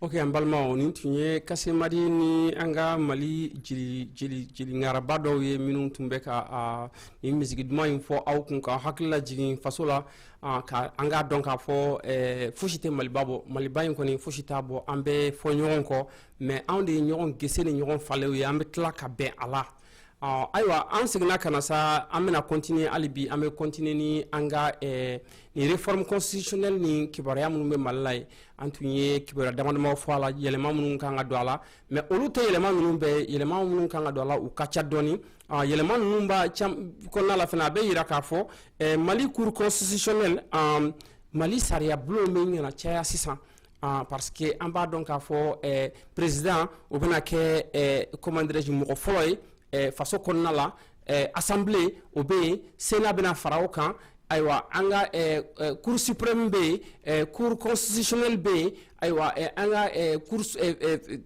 [SPEAKER 1] Ok an balimaw nin tun ye kasemadi ni an ka mali jeli ŋaraba dɔw ye minnu tun bɛ ka nin misigi duman in fɔ aw kun ka hakili lajigin faso la an k'a dɔn k'a fɔ fosi tɛ maliba bɔ maliba in kɔni fosi t'a bɔ an bɛ fɔ ɲɔgɔn kɔ mɛ anw de ye ɲɔgɔn gese ni ɲɔgɔn falew ye an bɛ tila ka bɛn a la ɔ ayiwa an seginna ka na sa an bɛna kɔntiniye hali bi an bɛ kɔntiniye ni an ka ɛɛ nin réforme constitutionnelle ni kibaruya minnu bɛ mali la ye an tun ye kibaruya damadamaw fɔ a la yɛlɛma minnu kan ka don a la mɛ olu tɛ yɛlɛma ninnu bɛɛ yɛlɛma minnu kan ka don a la u ka ca dɔɔni yɛlɛma ninnu b'a kɔnɔna la fana a bɛ yira k'a fɔ mali cour constitutionnelle mali sariyabulon bɛ ɲɛna caya sisan Ah, parce que an b'a dɔn k'a fɔ eh, président o bɛna kɛ eh, comment dirais-je mɔgɔ fɔlɔ ye eh, faso kɔnɔna la eh, assemblée o bɛ yen sénat bɛna fara o kan ayiwa an ka eh, eh, cour suprême bɛ yen eh, cour constitutionnelle bɛ yen ayiwa eh, an ka eh, cour eh, eh,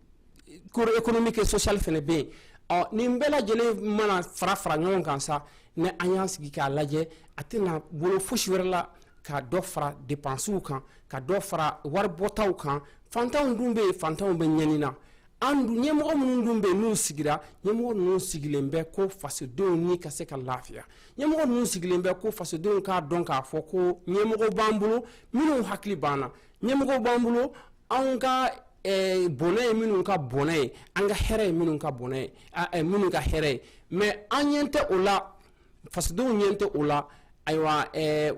[SPEAKER 1] cour économique et sociale fana bɛ yen ɔ nin bɛɛ lajɛlen mana fara fara ɲɔgɔn kan sa ni an y'an sigi k'a lajɛ a tɛna wolo fosi wɛrɛ la ka dɔ fara depansiw kan ka dɔ fara waribɔtaw kan fantanw dun bɛ yen fantanw bɛ ɲɛni na an dun ɲɛmɔgɔ minnu dun bɛ yen n'u sigira ɲɛmɔgɔ ninnu sigilen bɛ ko fasodenw ni ka se ka lafiya ɲɛmɔgɔ ninnu sigilen bɛ ko fasodenw k'a dɔn k'a fɔ ko ɲɛmɔgɔ b'an bolo minnu hakili b'an na ɲɛmɔgɔ b'an bolo anw ka eh, bɔnɛ ye minnu ka bɔnɛ ye an ka hɛrɛ ye minnu ka bɔnɛ ye eh, minnu ka hɛrɛ ye mɛ an ɲɛ tɛ o la fasodenw ɲɛ tɛ o la ayiwa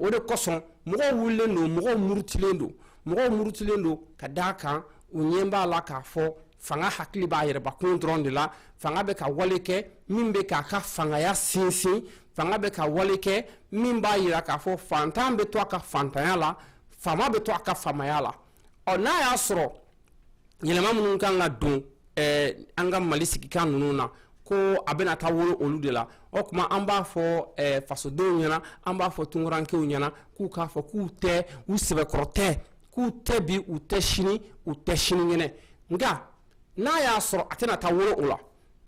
[SPEAKER 1] o de kosɔn mɔgɔw wulilen don mɔgɔw murutilen don mɔgɔw murutilen don ka d'a kan u ɲɛ b'a la k'a fɔ fanga hakili b'a yɛrɛbakun dɔrɔn de la fanga bɛ ka wale kɛ min bɛ k'a ka fangaya sinsin fanga bɛ ka wale kɛ min b'a yira k'a fɔ fantan bɛ to a ka fantanya la faama bɛ to a ka faamaya la ɔ n'a y'a sɔrɔ yɛlɛma minnu kan ka don eh, an ka mali sigikan ninnu na ko a bɛna taa wolo olu de la o tuma an b'a fɔ eh, fasodenw ɲɛna an b'a fɔ tunkarankew ɲɛna k'u k'a fɔ k'u tɛ u sɛbɛkɔrɔ tɛ k'u tɛ bi u tɛ sini u tɛ sinikɛnɛ nka n'a y'a sɔrɔ a tɛna taa wolo o la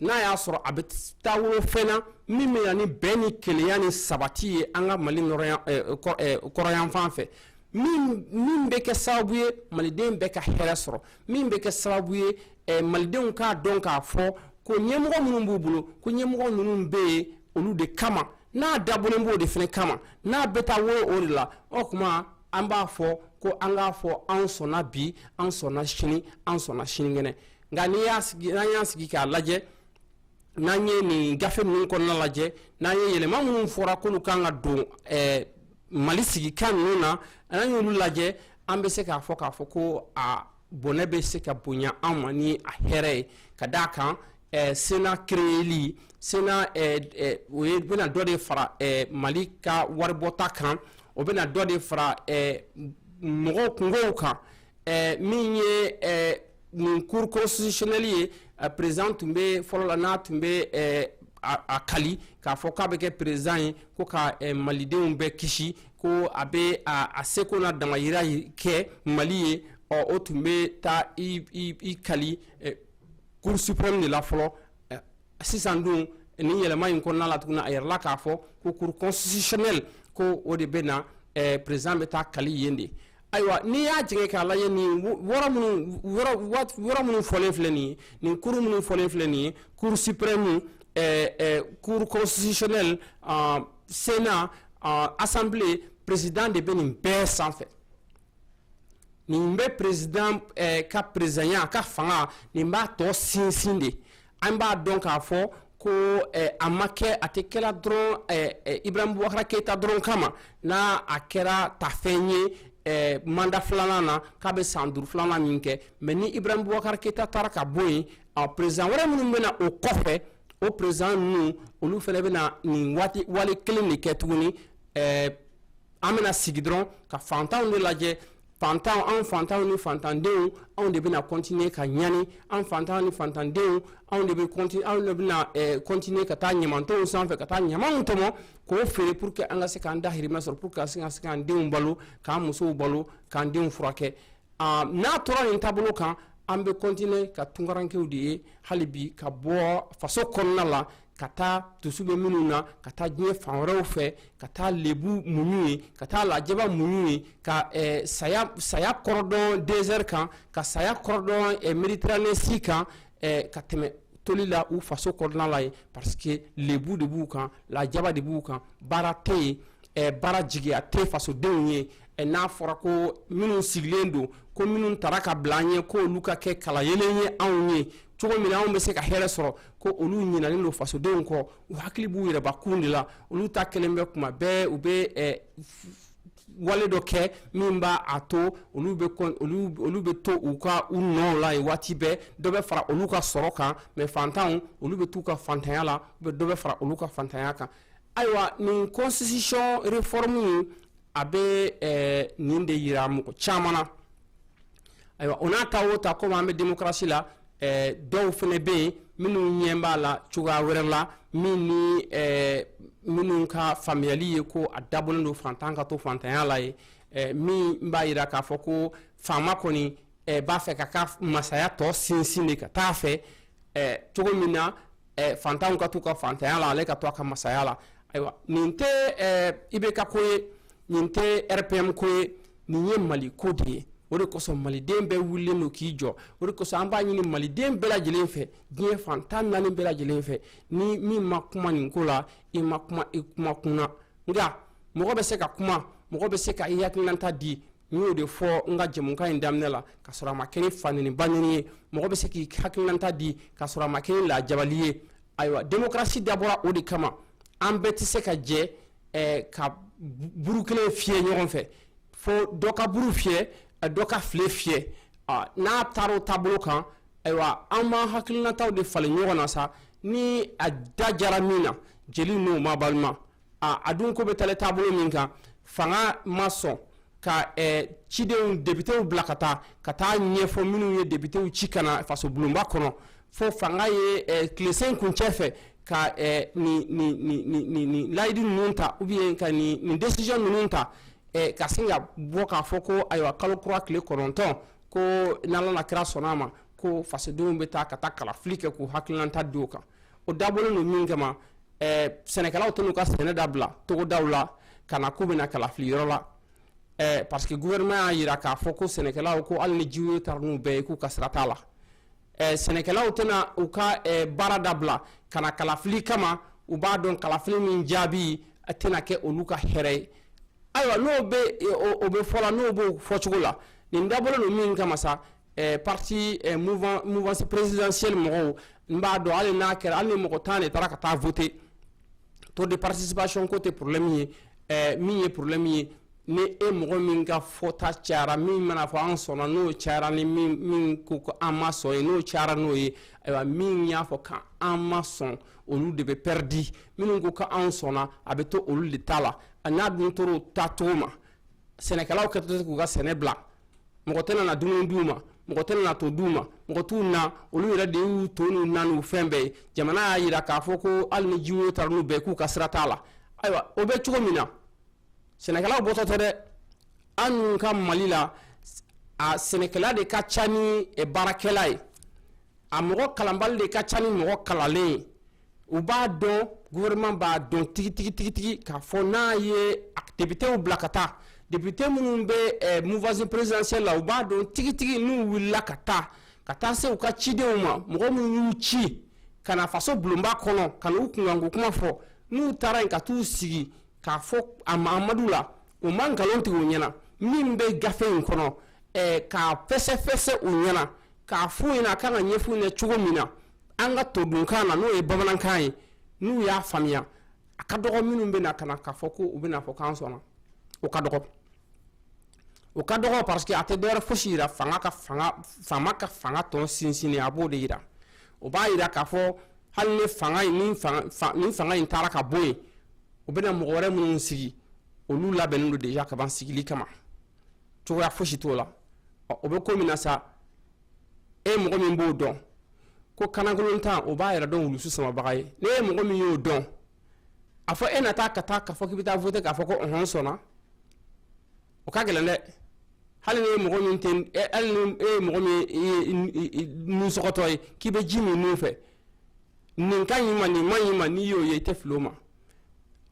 [SPEAKER 1] n'a y'a sɔrɔ a bɛ taa wolo fɛn na min bɛ na ni bɛn ni kelenya ni sabati ye an ka mali kɔrɔnyanfan fɛ min bɛ kɛ sababu ye maliden bɛɛ ka hɛrɛ sɔrɔ min bɛ kɛ sababu ye malidenw k'a dɔn k'a fɔ ko ɲɛmɔgɔ minnu b'u bolo ko ɲɛmɔgɔ ninnu bɛ yen olu de kama n'a dabɔlen b'o de fana kama n'a bɛ taa wolo o de la o tuma an b'a fɔ ko an k'a fɔ an sɔnna bi an sɔnna sini an sɔnna sinikɛnɛ nka n'i y'a sigi n'an y'a sigi k'a lajɛ n'an ye nin gafe ninnu kɔnɔna lajɛ n'an ye yɛlɛma minnu fɔra k'olu kan ka don eh, mali sigikan ninnu na n'an y'olu lajɛ an bɛ se k'a fɔ k'a fɔ ko a bɔnɛ bɛ se ka bonya an ma ni a hɛrɛ ye ka d'a kan eh, sénat créeli sénat eh, eh, o ye bɛna dɔ de fara eh, mali ka waribɔta kan o bɛna dɔ de fara eh, mɔgɔw kungow kan ɛɛ min ye ɛɛ nin cour constitutionnelle ye a président tun bɛ fɔlɔ la n'a tun bɛ ɛɛ a kali k'a fɔ k'a bɛ kɛ président ye ko ka ɛɛ malidenw bɛɛ kisi ko a bɛ a a seko n'a damayira kɛ mali ye ɔ o tun bɛ taa i i i kali ɛɛ cour suprême de la fɔlɔ. sisan dun ni yɛlɛma in kɔnɔna la tuguni a yirala k'a fɔ ko cour constitutionnelle ko o de bɛna eh, président bɛ taa kali yen de ayiwa n'i y'a jigin k'a lajɛ nin yɔrɔ minnu yɔrɔ minnu fɔlen filɛ nin ye nin cour minnu fɔlen filɛ nin ye cour suprême eh, eh, cour constitutionnelle uh, sénat uh, assemblée président de bɛ nin bɛɛ sanfɛ nin bɛ président eh, ka présidenya a ka fanga nin b'a tɔ sinsin de an b'a dɔn k'a fɔ ko eh, a ma kɛ a tɛ kɛla dɔrɔn eh, eh, ibrahim bubakara keyita dɔrɔn kama n'a a kɛra tafɛn ye eh, manda filanan na k'a bɛ san duuru filanan min kɛ mɛ ni ibrahim bubakara keyita taara ka bɔ yen a président wɛrɛ minnu bɛna o kɔfɛ o président ninnu olu fana bɛna nin waati wale kelen de kɛ tuguni eh, an bɛna sigi dɔrɔn ka fantanw de lajɛ fantan an fantanw ni fantandenw anw de bɛna kɔntiniye ka ɲani an fantanw ni fantandenw anw de bɛ kɔntiniye anw de bɛna kɔntiniye eh, ka taa ɲamantonw sanfɛ ka taa ɲamanw tɔmɔ k'o feere pour que an ka se k'an dahirimɛ sɔrɔ pour que ka se ka se k'an denw balo k'an musow balo k'an denw furakɛ ah, n'a tora nin taabolo kan an bɛ kɔntiniye ka tunkarankew de ye hali bi ka bɔ faso kɔnɔna la ka taa dusu bɛ minnu na ka taa diɲɛ fan wɛrɛw fɛ ka taa lebu muɲu yen ka taa lajaba muɲu yen ka eh, saya saya kɔrɔdɔn dɛsɛri kan ka saya kɔrɔdɔn eh, mediteranɛ ji kan eh, ka tɛmɛ toli la u faso kɔnɔna la ye parce que lebu de b'u kan lajaba de b'u kan baara tɛ yen eh, baara jigiya tɛ fasodenw ye eh, n'a fɔra ko minnu sigilen don ko minnu tara ka bila an ɲɛ k'olu ka kɛ kalayelen ye anw ye cogo min na anw bɛ se ka hɛrɛ sɔrɔ ko olu ɲinalen don fasodenw kɔ u hakili b'u yɛrɛbakun de la olu ta kelen bɛ kuma bɛɛ u bɛ eh, wale dɔ kɛ min b'a a to olu bɛ olu olu bɛ to u ka u nɔw la yen waati bɛɛ dɔ bɛ fara olu ka sɔrɔ kan mɛ fantanw olu bɛ t'u ka fantanya la u bɛ dɔ bɛ fara olu ka fantanya kan ayiwa nin constitution réforme a bɛ eh, nin de yira mɔgɔ caman na ayiwa o n'a ta o ta komi an bɛ demokarasi la eh, dɔw fana bɛ yen minnu ɲɛ b'a la cogoya wɛrɛ la min ni eh, minnu ka faamuyali ye ko a dabɔlen don fantan ka to fantanya la ye eh, min b'a yira k'a fɔ ko faama kɔni eh, b'a fɛ k'a ka masaya tɔ sinsin de ka taa fɛ eh, cogo min na eh, fantanw ka t'u ka fantanya la ale ka to a ka masaya la ayiwa nin tɛ eh, ibk ko ye nin tɛ rpm ko ye nin ye mali ko de ye o de kosɔn maliden bɛɛ wulilen don k'i jɔ o de kosɔn an b'a ɲini maliden bɛɛ lajɛlen fɛ diɲɛ fan tan naani bɛɛ lajɛlen fɛ ni min ma kuma nin ko la i ma kuma i kuma kunna nka mɔgɔ bɛ se ka kuma mɔgɔ bɛ se ka i hakilinata di n y'o de fɔ n ka jɛmukan in daminɛ la ka sɔrɔ a ma kɛ ni fanɛni banɛni ye mɔgɔ bɛ se k'i hakilinata di ka sɔrɔ a ma kɛ ni lajabali ye ayiwa demokarasi dabɔra o de kama an bɛɛ tɛ se ka jɛ eh, ka buru kelen fiyɛ ɲɔgɔn fɛ fo dɔ ka buru fiyɛ eh, dɔ ka file fiyɛ ah, n'a taara o taabolo kan ayiwa an b'an hakilinataw de falen ɲɔgɔn na sa ni a da jara min na jeli n'o ma balima aaa a dun ko bɛ taalen taabolo min kan fanga ma sɔn ka cidenw depitew bila ka taa ka taa ɲɛfɔ minnu ye depitew ci ka na faso bulonba kɔnɔ fo fanga ye tilesenkuncɛ fɛ ka layidu ninnu ta ou bien ka nin décision ninnu ta ka sin ka bɔ k'a fɔ ko ayiwa kalo kura tile kɔnɔntɔn ko n'Ala n'a kira sɔnna a ma ko fasodenw bɛ taa ka taa kalafili kɛ k'u hakilinata di o kan o dabɔlen don min kama sɛnɛkɛlaw tɛn'u ka sɛnɛ dabila togodaw la ka na k'u bɛ na kalafili yɔrɔ la ɛɛ parce que gouvernement y'a yira k'a fɔ ko sɛnɛkɛlaw ko hali ni jiwoyo taara n'u bɛɛ ye k'u ka sira t'a la ɛɛ sɛnɛkɛlaw tɛna u ka ɛɛ baara dabila ka na kalafili kama u b'a dɔn kalafili min jaabi a tɛna kɛ olu ka hɛrɛ ye ayiwa n'o bɛ o bɛ fɔ la n'o b'o fɔcogo la nin dabɔlen don min kama sa Eh, parti eh, mouvance présidentielle mɔgɔw n b'a dɔn hali n'a kɛra hali ni mɔgɔ tan de taara ka taa voter taux de participation ko tɛ problème ye eh, min ye problème ye ni e mɔgɔ min ka fɔta cayara min mana fɔ an sɔnna n'o cayara ni min ko ko an ma sɔn ye n'o cayara n'o ye ayiwa min y'a fɔ k'an ma sɔn olu de bɛ pɛridi minnu ko k'an sɔnna a bɛ to olu de ta la a n'a dun tora o taacogo ma sɛnɛkɛlaw kɛtɔ tɛ k'u ka sɛnɛ bila mɔgɔ tɛna na dumuni d'u ma mɔgɔ tɛna na to d'u ma mɔgɔ t'u na olu yɛrɛ de y'u to n'u na n'u fɛn bɛɛ ye jamana y'a yira k'a fɔ ko hali ni jiwoyo taara n'u bɛɛ k'u ka sira t'a la ayiwa o bɛ cogo min na sɛnɛkɛlaw bɔtɔ tɛ dɛ annu ka mali la a sɛnɛkɛla de ka ca ni baarakɛla ye a mɔgɔ kalanbali de ka ca ni mɔgɔ kalanlen ye u b'a dɔn gouvernement b'a dɔn tigitigitigi k'a fɔ n'a ye depitew bila ka taa depite minnu bɛ eh, mouvance présidentielle la u b'a dɔn tigitigi n'u wulila ka taa ka taa se u ka cidenw ma mɔgɔ minnu y'u ci ka na faso bulonba kɔnɔ ka n'u kunkanko kuma fɔ n'u taara yen ka t'u sigi k'a fɔ a mahamadu la u ma nkalon tigɛ u ɲɛna min bɛ gafe in kɔnɔ eh, k'a fɛsɛfɛsɛ u ɲɛna k'a f'u ɲɛna a kan ka ɲɛf'u ɲɛna cogo min na an ka todunkan na n'o ye bamanankan ye n'u y'a faamuya a ka dɔgɔ minnu bɛ na ka na k'a fɔ ko u bɛna fɔ k'an sɔnna o ka dɔgɔ o ka dɔgɔ parce que a tɛ dɔwɛrɛ fosi yira fanga ka faama ka fanga tɔ sinsin a b'o de yira o b'a yira k'a fɔ hali ni fanga ni fanga in taara ka bɔ yen u bɛna mɔgɔ wɛrɛ minnu sigi olu labɛnnen don de kaban sigili kama cogoya fosi t'o la o bɛ ko min na sa e mɔgɔ min b'o dɔn ko kanakolontan o b'a yɛrɛ dɔn wulusu samabaga ye ne ye mɔgɔ min y'o dɔn a fɔ e na taa ka taa k'a fɔ k'i bɛ taa voter k'a fɔ ko ɔhɔn sɔnna o ka gɛlɛn dɛ hali n'i ye mɔgɔ min tɛ hali ni e ye mɔgɔ min ye nunsɔgɔtɔ ye k'i bɛ ji min nun fɛ nin ka ɲi ma nin man ɲi ma n'i y'o ye i tɛ fili o ma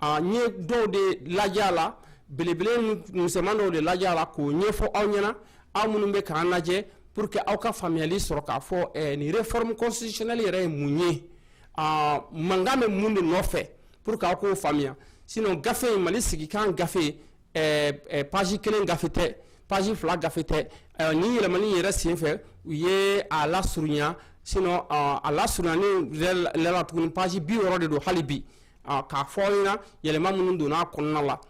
[SPEAKER 1] A n ye dɔw de lajɛ a la belebele misɛnman dɔw de lajɛ a la k'o ɲɛfɔ aw ɲɛna aw minnu bɛ k'an lajɛ pour que aw ka faamuyali sɔrɔ k'a fɔ nin réforme constitutionnelle yɛrɛ ye mun ye mankan bɛ mun de nɔfɛ pour que aw k'o faamuya sinon gafe in mali sigikan gafe page kelen gafe tɛ page fila gafe tɛ ni yɛlɛmani yɛrɛ senfɛ u ye a lasurunya sinon a lasurunyani la tuguni page bi wɔɔrɔ de don hali bi k'a fɔ aw ɲɛna yɛlɛma minnu donna a kɔnɔna la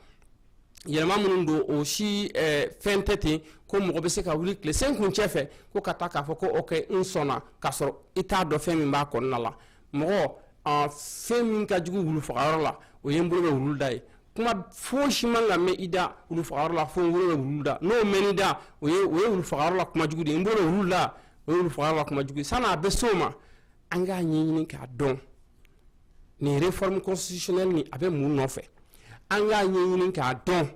[SPEAKER 1] yɛlɛma minnu don o si eh, fɛn tɛ ten ko mɔgɔ bɛ se ka wuli tilesenkuncɛ fɛ ko ka taa k'a fɔ ko ok n sɔnna k'a sɔrɔ i t'a dɔn fɛn min b'a kɔnɔna la mɔgɔ ah, fɛn min ka jugu wulu fagayɔrɔ la o ye n bolo bɛ wulu da ye kuma foyi si man ka mɛn i da wulu fagayɔrɔ la fo n bolo bɛ wulu da n'o mɛn i da o ye o ye wulu fagayɔrɔ la kuma jugu de ye n bolo bɛ wulu da o ye wulu fagayɔrɔ la kuma jugu ye san'a bɛ s'o ma an k'a ɲɛɲini k'a dɔn nin réforme constitutionnelle nin a bɛ mun nɔfɛ an k'a ɲɛɲini k'a dɔn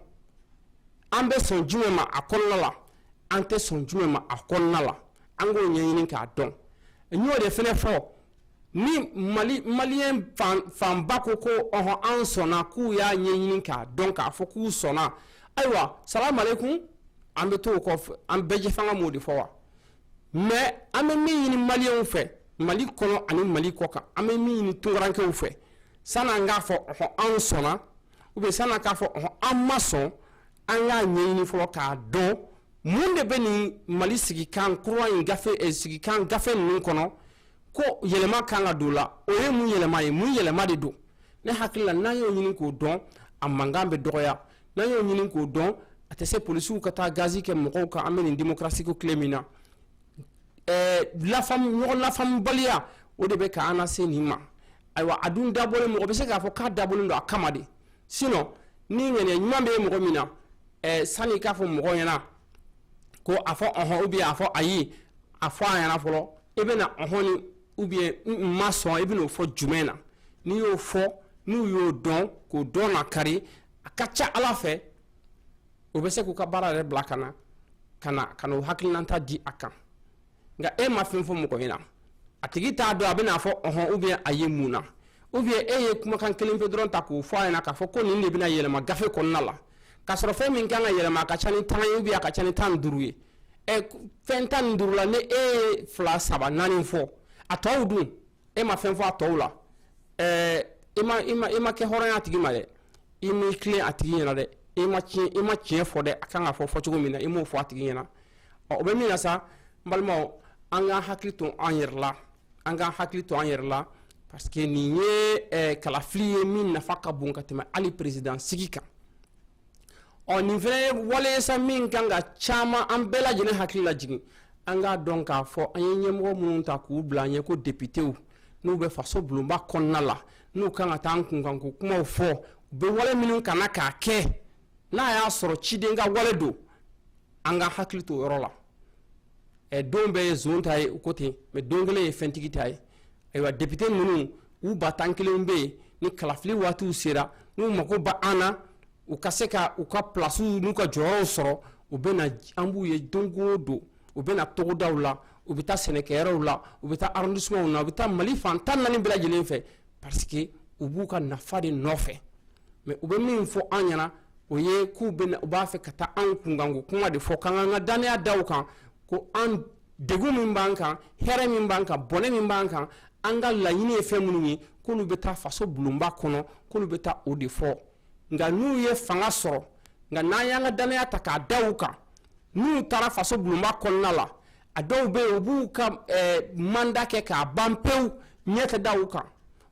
[SPEAKER 1] an bɛ sɔn jumɛn ma a kɔnɔna la an tɛ sɔn jumɛn ma a kɔnɔna la an k'o ɲɛɲini k'a dɔn n y'o de fɛnɛ fɔ ni mali maliyɛn fan fanba ko ko ɔhɔn an sɔnna k'u y'a ɲɛɲini k'a dɔn k'a fɔ k'u sɔnna ayiwa salamu aleykum an bɛ t'o kɔ an bɛɛjɛfanga m'o de fɔ wa mais an bɛ min ɲini maliyɛnw fɛ mali kɔnɔ ani mali kɔ kan an bɛ min ɲini tunkarankew fɛ san'an k'a fɔ ɔɔ anw sɔnna ou bien san'an k'a fɔ ɔɔ an ma sɔn an k'a ɲɛɲini fɔlɔ k'a dɔn mun de bɛ nin mali sigikan kura in gafe eh, sigikan gafe ninnu kɔnɔ ko yɛlɛma kan ka don la o ye mun yɛlɛma ye mun yɛlɛma de don ne hakili la n'an y'o ɲini k'o dɔn a mankan bɛ dɔgɔya n'an y'o ɲini k'o dɔn a tɛ se polisiw ka taa gazi kɛ mɔgɔw kan an bɛ nin demokarasiko tile min na ɲɔgɔn lafamubaliya o de bɛ k'an lase nin ma ayiwa a dun dabɔlen mɔgɔ bɛ se k'a fɔ k'a dabɔlen don a kama de sinon ni ŋaniya ɲuman bɛ mɔgɔ min na sani k'a fɔ mɔgɔ ɲɛna ko a fɔ ɔnhɔn ou bien a fɔ ayi a fɔ a ɲɛna fɔlɔ i bɛ na ɔnhɔn ou bien n ma sɔn i bɛn'o fɔ jumɛn na n'i y'o fɔ n'u y'o dɔn k'o dɔn na kari a ka ca ala fɛ o bɛ se k'u ka baara yɛrɛ bila ka na ka na ka n'o hakilinata di a kan nka e ma fɛn fɔ mɔgɔ ɲɛna a tigi t'a dɔn a bɛ n'a fɔ ɔnhɔn ou bien ayi mun na ou bien e ye kumakan kelen pe dɔrɔn ta k'o fɔ a ɲɛna k'a fɔ ko nin de bɛna yɛlɛma gafe kɔnɔna la ka sɔrɔ fɛn min kan ka yɛlɛma a ka ca ni tan ye ou bien a ka ca ni tan duuru ye fɛn tan ni duuru la ni e ye fila saba naani fɔ a tɔw dun e ma fɛn fɔ a tɔw la ɛɛ i ma i ma i ma kɛ hɔrɔn y'a tigi ma dɛ i m'i tilen a tigi ɲɛna dɛ i ma tiɲɛ i ma tiɲɛ fɔ dɛ a kan ka fɔ fɔ cogo min na i m'o fɔ a tigi ɲɛna ɔ o bɛ min na sa n balimaw an k'an hakili to an yɛrɛ la an k'an hakili to an yɛrɛ la parce que nin ye ɛɛ kalafili ye min nafa ka bon ka tɛmɛ hali peresidan sigi kan ɔ nin fɛnɛ ye wale ye sa min kan ka caman an bɛɛ lajɛlen hakili lajigin an k'a dɔn k'a fɔ an ye ɲɛmɔgɔ minnu ta k'u bila an ɲɛ ko depitew n'u bɛ faso bulonba kɔnɔna la n'u kan ka taa an kunkanko kumaw fɔ u bɛ wale minnu kan na k'a kɛ n'a y'a sɔrɔ ciden ka wale don an ka hakili to o yɔrɔ la ɛ don bɛɛ ye zon ta ye u ko ten mais don kelen ye fɛntigi ta ye ayiwa depite ninnu u ba tan kelen bɛ yen ni kalafili waatiw sera n'u mako b'an na u ka se ka u ka pilasiw n'u ka jɔyɔrɔw sɔrɔ u bɛ na an b'u ye don o don u bɛ na togodaw la u bɛ taa sɛnɛkɛyɔrɔw la u bɛ taa arrondissementw na u bɛ taa mali fan tan naani bɛɛ lajɛlen fɛ parce que u b'u ka nafa de nɔfɛ mais u bɛ min fɔ an ɲɛna o ye k'u bɛ u b'a fɛ ka taa anw kunkanko kuma de fɔ k'an k'an ka dannaya da u kan ko an degun min b'an kan hɛrɛ min b'an kan bɔnɛ min b'an kan an ka laɲini ye fɛn minnu ye k'olu bɛ taa faso bulonba kɔnɔ k'olu bɛ taa o de fɔ nka n'u ye fanga sɔrɔ nka n'an y'an ka dannaya ta k'a da u kan n'u taara faso bulonba kɔnɔna la a dɔw bɛ yen u b'u ka eh, manda kɛ k'a ban pewu ɲɛ tɛ da u kan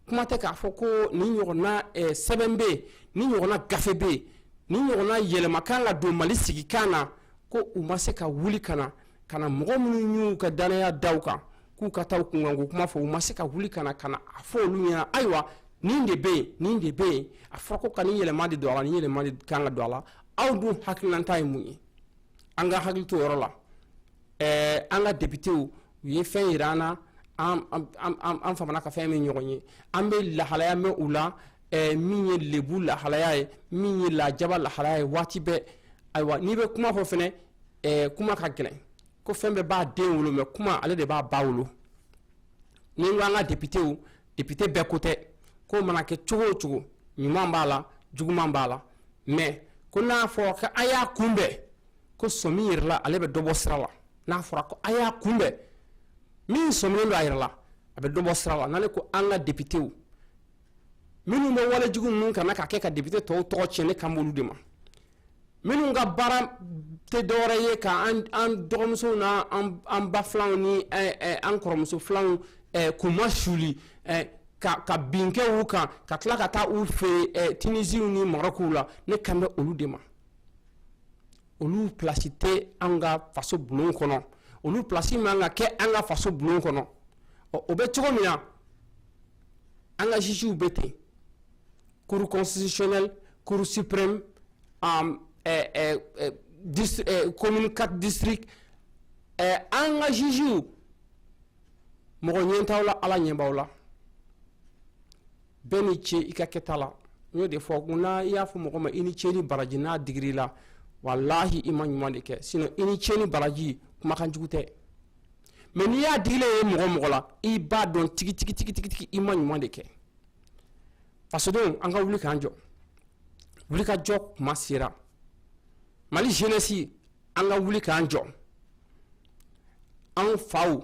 [SPEAKER 1] kuma tɛ k'a fɔ ko nin ɲɔgɔnna eh, sɛbɛn bɛ yen nin ɲɔgɔnna gafe bɛ yen nin ɲɔgɔnna yɛlɛma kan ka don mali sigikan na ko u ma se ka wuli ka na ka na mɔgɔ minnu y'u ka danaya da u kan k'u ka taa kunkanko kuma fɔ u ma se ka wuli ka na a fɔ olu ɲɛna ayiwa nin de bɛ yen nin de bɛ yen a fɔra ko ka nin yɛlɛma de don a la nin yɛlɛma de kan ka don a la aw dun hakilinata ye mun ye an ka hakili to o yɔrɔ la ɛɛ an ka depitew u ye fɛn yira an na an an an famana ka fɛn min ɲɔgɔn ye an bɛ lahalaya mɛn u la ɛɛ min ye lebu lahalaya ye min ye lajaba lahalaya ye waati bɛɛ ayiwa n'i bɛ kuma fɔ fɛnɛ ɛɛ kuma ka gɛlɛn ko fɛn bɛɛ b'a den wolo mɛ kuma ale de b'a ba wolo ni n ko an ka depitew depite bɛɛ ko tɛ ko mana kɛ cogo o cogo ɲuman b'a la juguman b'a la mɛ ko n'a fɔra ko a y'a kunbɛn ko sɔmi yɛrɛ la ale bɛ dɔ bɔ sira la n'a fɔra ko a y'a kunbɛn min sɔminen don a yɛrɛ la a bɛ dɔ bɔ sira la n'ale ko an ka depitew minnu bɛ walejugu ninnu kana ka kɛ ka depite tɔw tɔgɔ tiɲɛ ne kan b'olu de ma minnu ka baara tɛ dɔwɛrɛ ye ka an dɔgɔmusow n'an ba filanw ni an kɔrɔmuso filanw k'u ma suli ka bin kɛ u kan ka tila ka taa u fɛ tinisiw ni marɔkuw la ne kan bɛ olu de ma olu plasi tɛ an ka faso bulon kɔnɔ olu plasi man ka kɛ an ka faso bulon kɔnɔ ɔ o bɛ cogo min na an ka juges bɛ ten cour constitutionnelle cour suprême um, eh, eh, eh, dist eh, commune 4 district eh, an ka juges mɔgɔ ɲɛ t'aw la ala ɲɛ b'aw la bɛɛ ni ce i ka kɛta la n y'o de fɔ ko n'a y'a fɔ mɔgɔ ma i ni ce ni baraji n'a digir'i la walahi i ma ɲuman de kɛ sinon i ni ce ni baraji kumakan jugu tɛ mɛ n'i y'a digilen ye mɔgɔ o mɔgɔ la i b'a dɔn tigitigitigitigitigi i ma ɲuman de kɛ fasodenw an ka wuli k'an jɔ wuli ka jɔ kuma sera mali jenɛsi an ka wuli k'an jɔ an faw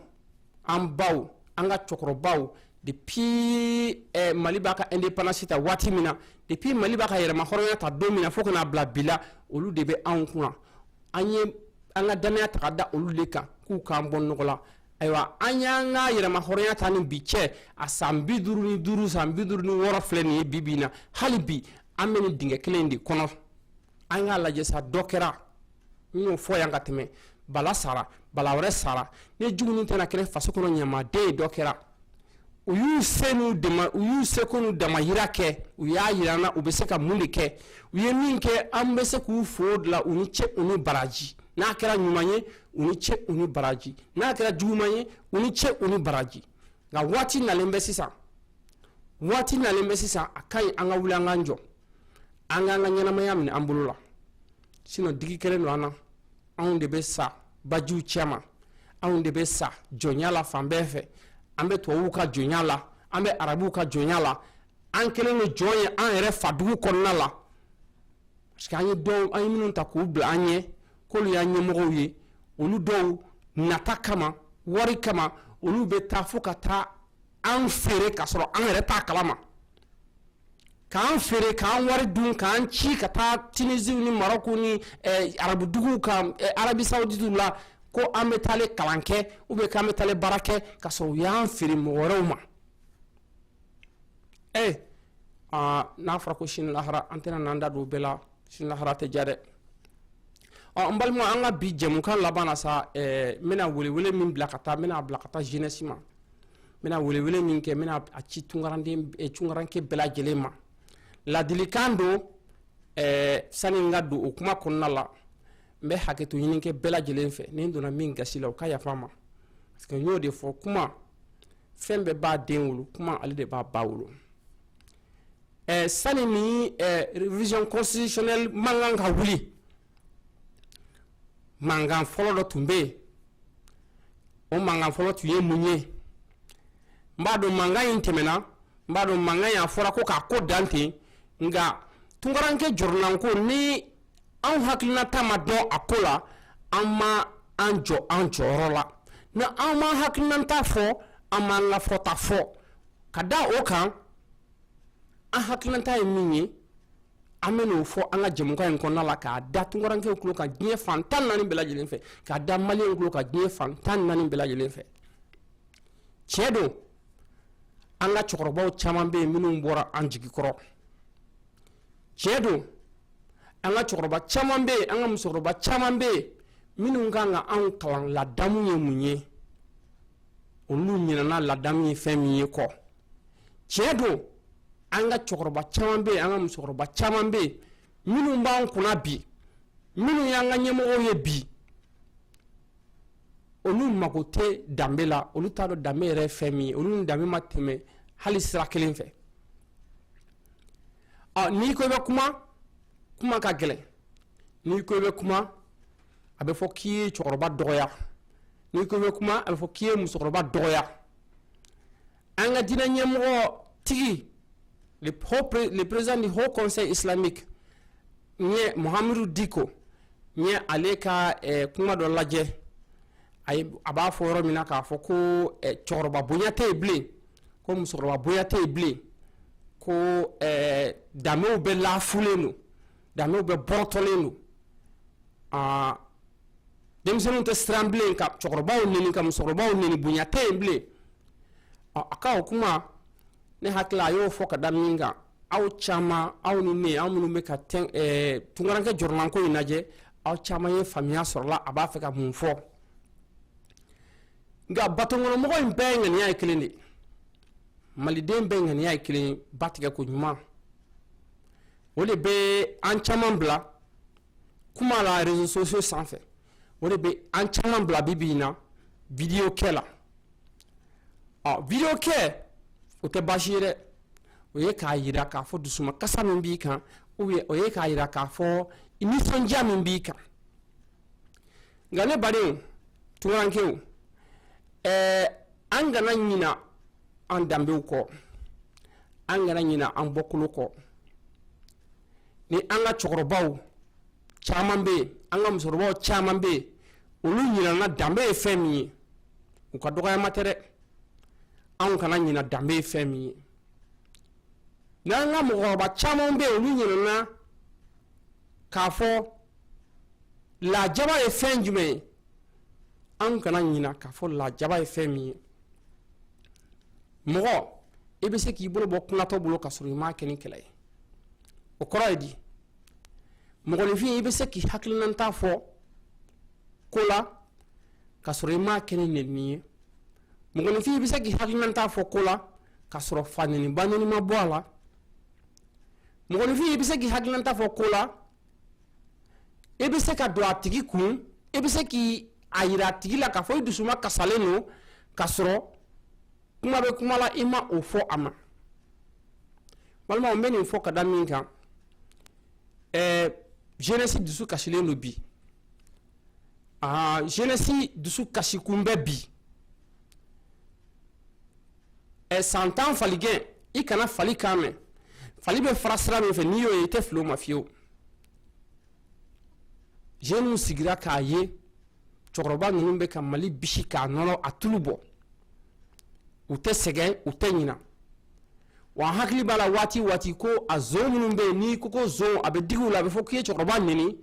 [SPEAKER 1] an baw an ka cɛkɔrɔbaw depuis eh, mali b'a ka indépendance ta waati min na depuis mali b'a ka yɛrɛmahɔrɔnya ta don min na fo ka na bila bi la olu de bɛ anw kunna an ye an ka danaya ta ka da olu de kan k'u k'an bɔ nɔgɔ la ayiwa an y'an ka yɛrɛmahɔrɔnya ta ni bi cɛ a san bi duuru ni duuru san bi duuru ni wɔɔrɔ filɛ nin ye bi bi in na hali bi an bɛ nin dingɛ kelen de kɔnɔ an k'a lajɛ sa dɔ kɛra n y'o fɔ yan ka tɛmɛ bala sara bala wɛrɛ sara ni juguni tɛ na kɛra faso kɔnɔ ɲamaden ye dɔ kɛra u y'u se u y'u seko n'u damayira kɛ u y'a jira an na u bɛ se ka mun de kɛ u ye min kɛ an bɛ se k'u fo de la u ni ce u ni baraji n'a kɛra ɲuman ye u ni ce u ni baraji n'a kɛra juguman ye u ni ce u ni baraji nka waati nalen bɛ sisan waati nalen bɛ sisan a ka ɲi an ka wuli an k'an jɔ an k'an ka ɲɛnamaya minɛ an bolo la sinɔn digi kɛlen don an na anw de bɛ sa bajiw cɛma anw de bɛ sa jɔnya la fan bɛɛ fɛ an bɛ tubabuw ka jɔnya la an bɛ arabuw ka jɔnya la an kɛlen don jɔn ye an yɛrɛ fadugu kɔnɔna la parce que an ye dɔw an ye minnu ta k'u bila an ɲɛ k'olu y'an ɲɛmɔgɔw ye olu dɔw nata kama wari kama olu bɛ taa fo ka taa an feere k'a sɔrɔ an yɛrɛ t'a kalama k'an feere k'an wari dun k'an ci ka taa tunisiw ni marɔku ni eh, arabuduguw kan eh, arabi sauditiw la ko an bɛ taale kalan kɛ ou bien k'an bɛ taale baara kɛ ka sɔrɔ u y'an feere mɔgɔ wɛrɛw ma ee eh, ah, n'a fɔra ko sini lahara an tɛna n'an da don o bɛɛ la sini lahara tɛ diya dɛ ɔ n balima an ka bi jɛmukan laban na sa n bɛna welewele min bila ka taa n bɛna bila ka taa jeunesse ma n n bɛna welewele min kɛ n bɛna a ci tunkaranden eh, tunkaranke bɛɛ lajɛlen ma ladilikan don eh, sani n ka don o kuma kɔnɔna la n bɛ hakɛto ɲini kɛ bɛɛ lajɛlen fɛ ni n donna min gasi la o ka yafa ma parce que n y'o de fɔ kuma fɛn bɛɛ b'a den wolo kuma ale de b'a ba wolo eh, sani nin eh, révision constitutionnelle mankan ka wuli mankan fɔlɔ dɔ tun bɛ yen o mankan fɔlɔ tun ye mun ye n b'a dɔn mankan in tɛmɛna n b'a dɔn mankan in a fɔra ko k'a ko dan ten nka tunkaranke jɔrɔnanko ni anw hakilinata ma dɔn a ko la an ma an jɔ an jɔyɔrɔ la ni an m'an hakilinata fɔ an m'an ka fɔta fɔ ka da o kan an hakilinata ye min ye an bɛn'o fɔ an ka jɛmukan in kɔnɔna la k'a da tunkarankew tulo kan diɲɛ fan tan naani bɛɛ lajɛlen fɛ k'a da maliyɛnw tulo kan diɲɛ fan tan naani bɛɛ lajɛlen fɛ tiɲɛ don an ka cɛkɔrɔbaw caman bɛ yen minnu bɔra an jigi kɔrɔ tiɲɛ don an ka cɛkɔrɔba caman bɛ yen an ka musokɔrɔba caman bɛ yen minnu kan ka anw kalan ladamu ye mun ye olu ɲinɛna ladamu ye fɛn min ye kɔ tiɲɛ don an ka cɛkɔrɔba caman bɛ yen an ka musokɔrɔba caman bɛ yen minnu b'an kunna bi minnu y'an ka ɲɛmɔgɔw ye bi olu mago tɛ danbe la olu t'a dɔn danbe yɛrɛ ye fɛn min ye olu ni danbe ma tɛmɛ hali sira kelen fɛ ɔ n'i ko i bɛ kuma kuma ka gɛlɛn n'i ko i bɛ kuma a bɛ fɔ k'i ye cɛkɔrɔba dɔgɔya n'i ko i bɛ kuma a bɛ fɔ k'i ye musokɔrɔba dɔgɔya an ka diinɛ ɲɛmɔgɔ tigi le président du haut conseil islamique n ye mahamudu diko n ye ale ka eh, kuma dɔ lajɛ a b'a fɔ yɔrɔ min na k'a fɔ ko eh, cɛkɔrɔba bonya tɛ yen bilen ko musokɔrɔba bonya tɛ yen bilen ko eh, danbew bɛɛ lafililen don Danbe bɔrɔtɔlen don aa denmisɛnw tɛ siran bilen ka cɛkɔrɔbaw neni ka musokɔrɔbaw neni bonya tɛ yen bilen ɔ a ka o kuma ne hakili a y'o fɔ ka da min kan aw caman aw ni ne aw minnu bɛ ka tunkarankɛ jɔrɔnanko in lajɛ aw caman ye faamuya sɔrɔ a la a b'a fɛ ka mun fɔ nka batokɔnɔmɔgɔ in bɛɛ ŋaniya ye kelen de maliden bɛɛ ŋaniya ye kelen ba tigɛ ko ɲuman o de bɛ an caman bila kuma la réseaux sociaux sanfɛ o de bɛ an caman bila bi bi in na vidéo kɛ la ɔ vidéo kɛ o tɛ baasi ye dɛ o ye k'a jira k'a fɔ dusuma kasa min b'i kan o ye k'a jira k'a fɔ nisɔndiya min b'i kan nka ne baden tunkarankɛw ɛɛ an kana ɲina an danbew kɔ an kana ɲina an bɔkolo kɔ ni an ka cɛkɔrɔbaw caman bɛ yen an ka musokɔrɔbaw caman bɛ yen olu ɲinana danbe ye fɛn min ye u ka dɔgɔyama tɛ dɛ anw kana ɲina danbe ye fɛn min ye n'an ka mɔgɔkɔrɔba caman bɛ yen olu ɲinana k'a fɔ lajaba ye fɛn jumɛn ye anw kana ɲina k'a fɔ lajaba ye fɛn min ye mɔgɔ i bɛ se k'i bolo bɔ kunatɔ bolo ka sɔrɔ i m'a kɛ ni kɛlɛ ye o kɔrɔ ye di mɔgɔninfin i bɛ se k'i hakilinanta fɔ ko la ka sɔrɔ i m'a kɛ ni nɛni ye mɔgɔninfin i bɛ se k'i hakilinanta fɔ ko la ka sɔrɔ fa nɛni ba nɛni ma bɔ a la mɔgɔninfin i bɛ se k'i hakilinanta fɔ ko la i bɛ se ka don a tigi kun i bɛ se k' a jira a tigi la k'a fɔ i dusuma kasalen don ka sɔrɔ kuma bɛ kuma la i ma o fɔ a ma walima n bɛ nin fɔ ka da min kan ɛɛ jeunesse dusu kasilen don bi aa jeunesse dusu kasi kun bɛ bi ɛ san tan faligɛn i kana fali kan mɛn fali bɛ fara sira min fɛ n'i y'o ye i tɛ fili o ma fiyewu jeunes sigira k'a ye cɛkɔrɔba ninnu bɛ ka mali bisi k'a nɔnɔ a tulu bɔ u tɛ sɛgɛn u tɛ ɲina wa an hakili b'a la waati waati ko a zon minnu bɛ yen n'i ko ko zon a bɛ digi u la a bɛ fɔ k'i ye cɛkɔrɔba neni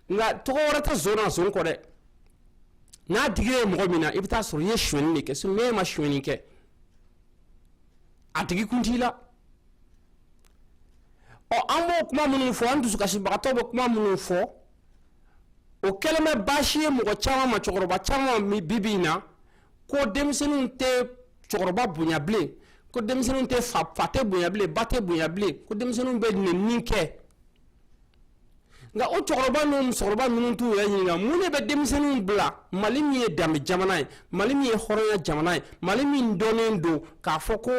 [SPEAKER 1] nka tɔgɔ wɛrɛ tɛ zon na zon kɔ dɛ n'a digira mɔgɔ min na i bɛ t'a sɔrɔ i ye sonyɛni de kɛ sinon n'e ma sonyɛni kɛ a tigi kun t'i la ɔ an b'o kuma minnu fɔ an dusukasibagatɔ bɛ kuma minnu fɔ o kɛlen bɛ baasi ye mɔgɔ caman ma cɛkɔrɔba caman ma bibi in na ko denmisɛnninw tɛ cɛkɔrɔba bonya bilen ko denmisɛnninw tɛ fa fa tɛ bonya bilen ba tɛ bonya bilen ko denmisɛnninw bɛ nɛni kɛ nka o cɛkɔrɔba n'o musokɔrɔba ninnu t'u yɛrɛ ɲininka mun de bɛ denmisɛnninw bila mali min ye danbe jamana ye mali min ye hɔrɔnya jamana ye mali min dɔnnen don k'a fɔ ko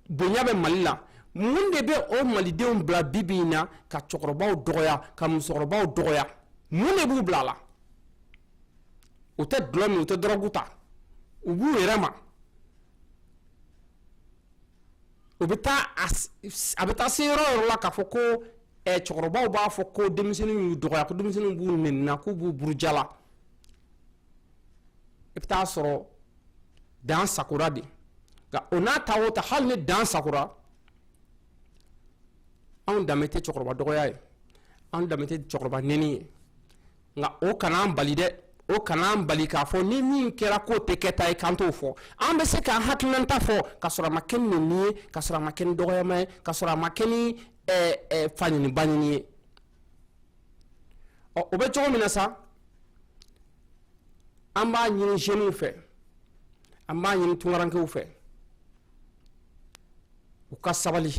[SPEAKER 1] bonya bɛ mali la mun de bɛ o malidenw bila bi bi in na ka cɛkɔrɔbaw dɔgɔya ka musokɔrɔbaw dɔgɔya mun de b'u bila a la u tɛ dulɔ min u tɛ dɔrɔgu ta u b'u yɛrɛ ma u bɛ taa a bɛ taa se yɔrɔ yɔrɔ la k'a fɔ ko cɛkɔrɔbaw b'a fɔ ko denmisɛnninw y'u dɔgɔya ko denmisɛnninw b'u nɛnina k'u b'u burujala i bɛ taa sɔrɔ dan sakora de nka o n'a ta o ta hali ni dan sakora anw danbe tɛ cɛkɔrɔba dɔgɔya ye anw danbe tɛ cɛkɔrɔba nɛni ye nka o kana an bali dɛ o kana an bali k'a fɔ ni min kɛra k'o tɛ kɛta ye k'an t'o fɔ an bɛ se k'an hakilinata fɔ ka sɔrɔ a ma kɛ ni nɛni ye ka sɔrɔ a ma kɛ ni dɔgɔyama ye ka sɔrɔ a ma kɛ ni fanɛni banɛni ye ɔ o bɛ cogo min na sa an b'a ɲini zeniw fɛ an b'a ɲini tunkarankew fɛ u ka sabali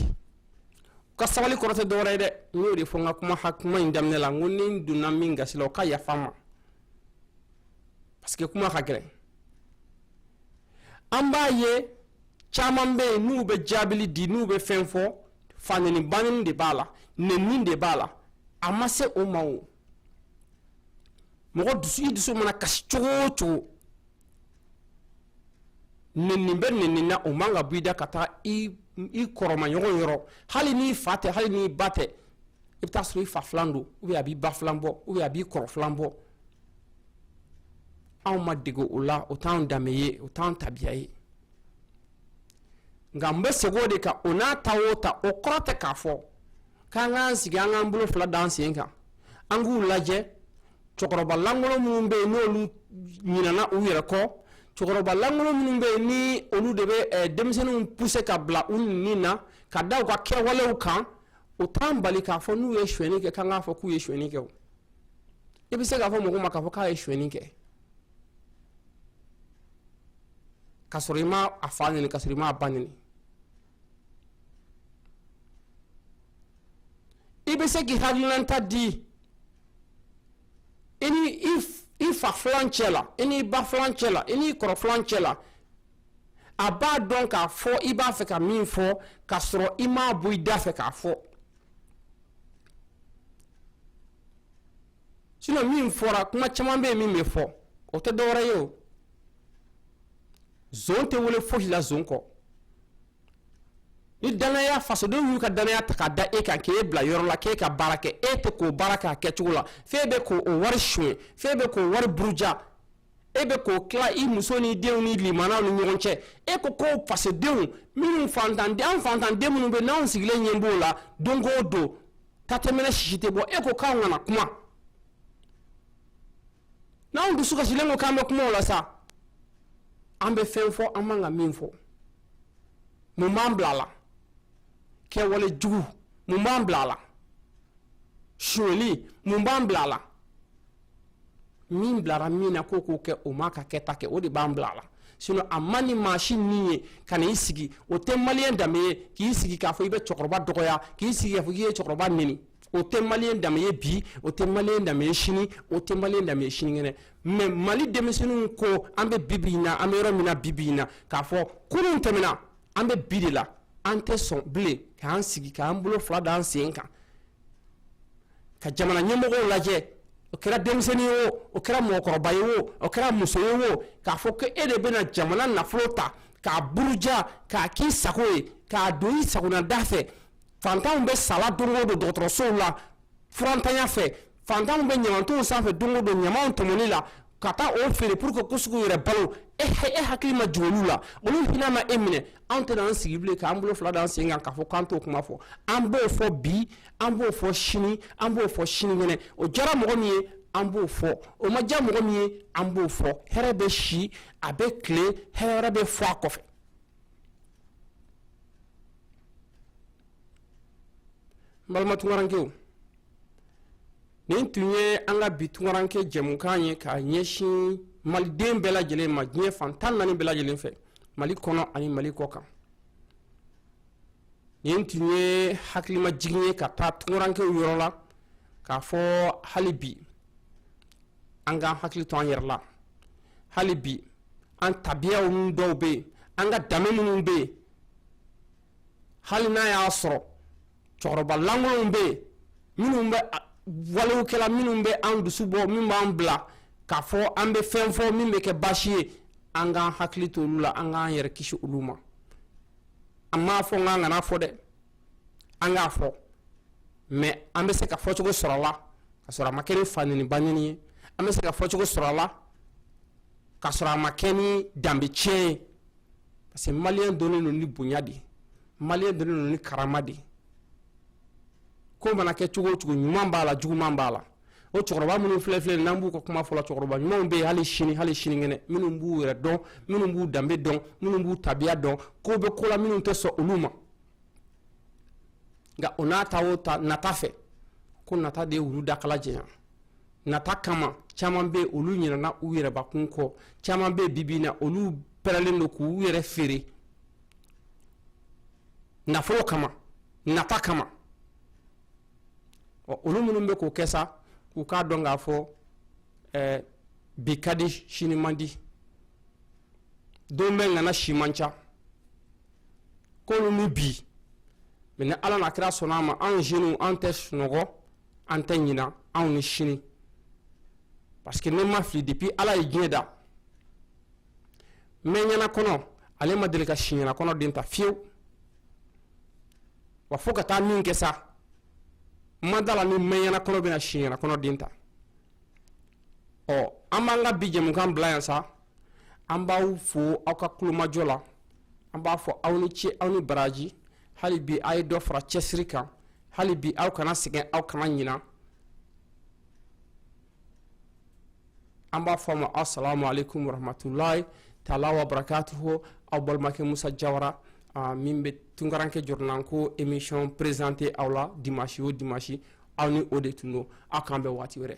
[SPEAKER 1] ka sabali kɔrɔ tɛ dɔwɛrɛ ye dɛ n y'o de fɔ n ka kuma ha kuma in daminɛ la n ko ni n donna min gasi la o ka yafa n ma parce que kuma ka gɛlɛn an b'a ye caman bɛ yen n'u bɛ jaabili di n'u bɛ fɛn fɔ fanɛni banɛni de b'a la nɛni de b'a la a ma se o ma o mɔgɔ dusu i dusu mana kasi cogo o cogo nɛni bɛ nɛni na o man ka bɔ i da ka taa i kɔrɔmaɲɔgɔn yɔrɔ hali n'i fa tɛ hali n'i ba tɛ i bɛ taa sɔrɔ i fa filan don ou bien a b'i ba filan bɔ ou bien a b'i kɔrɔ filan bɔ anw ma dege o la o t'anw danbe ye o t'anw tabiya ye nka n bɛ segin o de kan o n'a ta o ta o kɔrɔ tɛ k'a fɔ k'an k'an sigi an k'an bolo fila d'an sen kan an k'u lajɛ cɛkɔrɔbalankolon minnu bɛ yen n'olu ɲinana u yɛrɛ kɔ cɛkɔrɔbalankolon minnu bɛ yen ni olu de bɛ eh, denmisɛnninw pousser ka bila u nɛni na ka da u ka kɛwalew kan o t'an bali k'a fɔ n'u ye sonyɛni kɛ k'an k'a fɔ k'u ye sonyɛni kɛ o i bɛ se k'a fɔ mɔgɔ ma k'a fɔ k'a ye sonyɛni kɛ ka sɔrɔ i ma a fa nɛni ka sɔrɔ i ma a ba nɛni i bɛ se k'i hakilinata di i ni i fa filan cɛ la i n'i ba filan cɛ la i n'i kɔrɔ filan cɛ la a b'a dɔn k'a fɔ i b'a fɛ ka min fɔ ka sɔrɔ i m'a bɔ i da fɛ k'a fɔ sinon min fɔra kuma caman bɛ yen min bɛ fɔ o tɛ dɔwɛrɛ ye o tɛ wele foyi la zon kɔ ni danaya fasodenw y'u ka danaya ta k'a da e kan k'e bila yɔrɔ la k'e ka baara kɛ e tɛ k'o baara k'a kɛcogo la f'e bɛ k'o wari sonya f'e bɛ k'o wari buruja e bɛ k'o tila i muso ni denw ni limanaw ni ɲɔgɔn cɛ e ko ko fasodenw minnu fantan an fantanden minnu bɛ n'an sigilen ɲɛ b'o la don o don ta tɛ mɛnɛ sisi tɛ bɔ e ko k'an kana kuma n'anw dusu kasilen ko k'an bɛ kuma o la sa an bɛ fɛn fɔ an man ka min fɔ mun b'an bila a la kɛwale jugu mun b'an bila a la sonyali mun b'an bila a la min bilara min na k'o k'o kɛ o m'a ka kɛta kɛ o de b'an bila a la sinon a man di maa si ni ye ka na i sigi o tɛ maliyɛn danbe ye k'i sigi k'a fɔ i bɛ cɛkɔrɔba dɔgɔya k'i sigi k'a fɔ k'i ye cɛkɔrɔba neni o tɛ maliyɛn danbe ye bi o tɛ maliyɛn danbe ye sini o tɛ maliyɛn danbe ye sinikɛnɛ mais mali denmisɛnninw ko an bɛ bibi in na an bɛ yɔrɔ min na bibi in na k'a fɔ kunun tɛmɛna an bɛ bi de la an tɛ sɔn bilen k'an sigi k'an bolo fila da an sen kan ka jamana ɲɛmɔgɔ lajɛ o kɛra denmisɛnnin ye o o kɛra mɔgɔkɔrɔba ye o o kɛra muso ye o k'a fɔ ko e de bɛna jamana nafolo ta k'a buruja k'a k'i sago ye k'a don i sagonada fɛ fantanw bɛ sala don o don dɔgɔtɔrɔsow la furantanya fɛ fantanw bɛ ɲamantonw sanfɛ don o don ɲamanw tɔmɔni la ka taa o feere pour que k'u se k'u yɛrɛ balo e e hakili ma jigin olu la olu hinɛ ma e minɛ anw tɛna an sigi bilen k'an bolo fila d'an sen kan k'a fɔ k'an t'o kuma fɔ an b'o fɔ bi an b'o fɔ sini an b'o fɔ sinikɛnɛ o diyara mɔgɔ min ye an b'o fɔ o ma diya mɔgɔ min ye an b'o fɔ hɛrɛ bɛ si a bɛ tile hɛrɛ wɛrɛ bɛ fɔ a kɔfɛ n balima tunkarankew nin tun ye an ka bi tunkaranke jɛmukan ye k'a ɲɛsin maliden bɛɛ lajɛlen ma diɲɛ fan tan naani bɛɛ lajɛlen fɛ mali kɔnɔ ani mali kɔkan nin tun ye hakilimajigin ye ka taa tunkarankew yɔrɔ la k'a fɔ hali bi an k'an hakili to an yɛrɛ la hali bi an tabiyaw minnu dɔw bɛ yen an ka danbe minnu bɛ yen hali n'a y'a sɔrɔ cɛkɔrɔba lankolonw bɛ yen minnu bɛ walew kɛla minnu bɛ an dusu bɔ min b'an bila k'a fɔ an bɛ fɛn fɔ min bɛ kɛ baasi ye an k'an hakili to olu la an k'an yɛrɛ kisi olu ma an m'a fɔ n k'an kan'a fɔ dɛ an k'a fɔ mais an bɛ se ka fɔcogo sɔrɔ a la ka sɔrɔ a ma kɛ ni fa neni ba neni ye an bɛ se ka fɔcogo sɔrɔ a la ka sɔrɔ a ma kɛ ni danbe tiɲɛ ye parce que maliyɛn dɔnnen don ni bonya de maliyɛn dɔnnen don ni karama de ko mana kɛ cogo o cogo ɲuman b'a la juguman b'a la o cɛkɔrɔba minnu filɛ filɛ n'an b'u ka kuma fɔ la cɛkɔrɔba ɲumanw bɛ yen hali sini hali sinikɛnɛ minnu b'u yɛrɛ dɔn minnu b'u danbe dɔn minnu b'u tabiya dɔn ko bɛ ko la minnu tɛ sɔn olu ma nka o n'a ta o ta nata fɛ ko nata de ye wulu dakala janya nata kama caman bɛ yen olu ɲinɛna u yɛrɛbakun kɔ caman bɛ yen bibi in na olu pɛrɛlen don k'u yɛrɛ feere nafolo kama nata kama ɔ olu minnu bɛ k'o kɛ sa k'u k'a dɔn k'a fɔ ɛɛ bi ka di sini man di don bɛɛ ŋana si man ca k'olu ni bi mɛ ni ala n'a kira sɔnna a ma anw zeniw an tɛ sunɔgɔ an tɛ ɲina anw ni sini parce que ne ma fili depuis ala ye diɲɛ da mɛɲɛna kɔnɔ ale ma deli ka siɲɛna kɔnɔ den ta fiyewu wa fo ka taa min kɛ sa n ma da a la ni mɛɲɛna kɔnɔ bɛna siɲɛna kɔnɔ den ta ɔ an b'an ka bi jɛmukan bila yan sa an b'aw fo aw ka kulomajɔ la an b'a fɔ aw ni ce aw ni baraji hali bi a ye dɔ fara cɛsiri kan hali bi aw kana sɛgɛn aw kana ɲina an b'a fɔ a ma assalamu alaikum warahmatullahi taala wa barakatuhu aw balimakɛ musa jawara uh, min bɛ tunkaranke jɔrɔnanko émission présenté aw la dimanche o dimanche aw ni o de tun don aw k'an bɛn waati wɛrɛ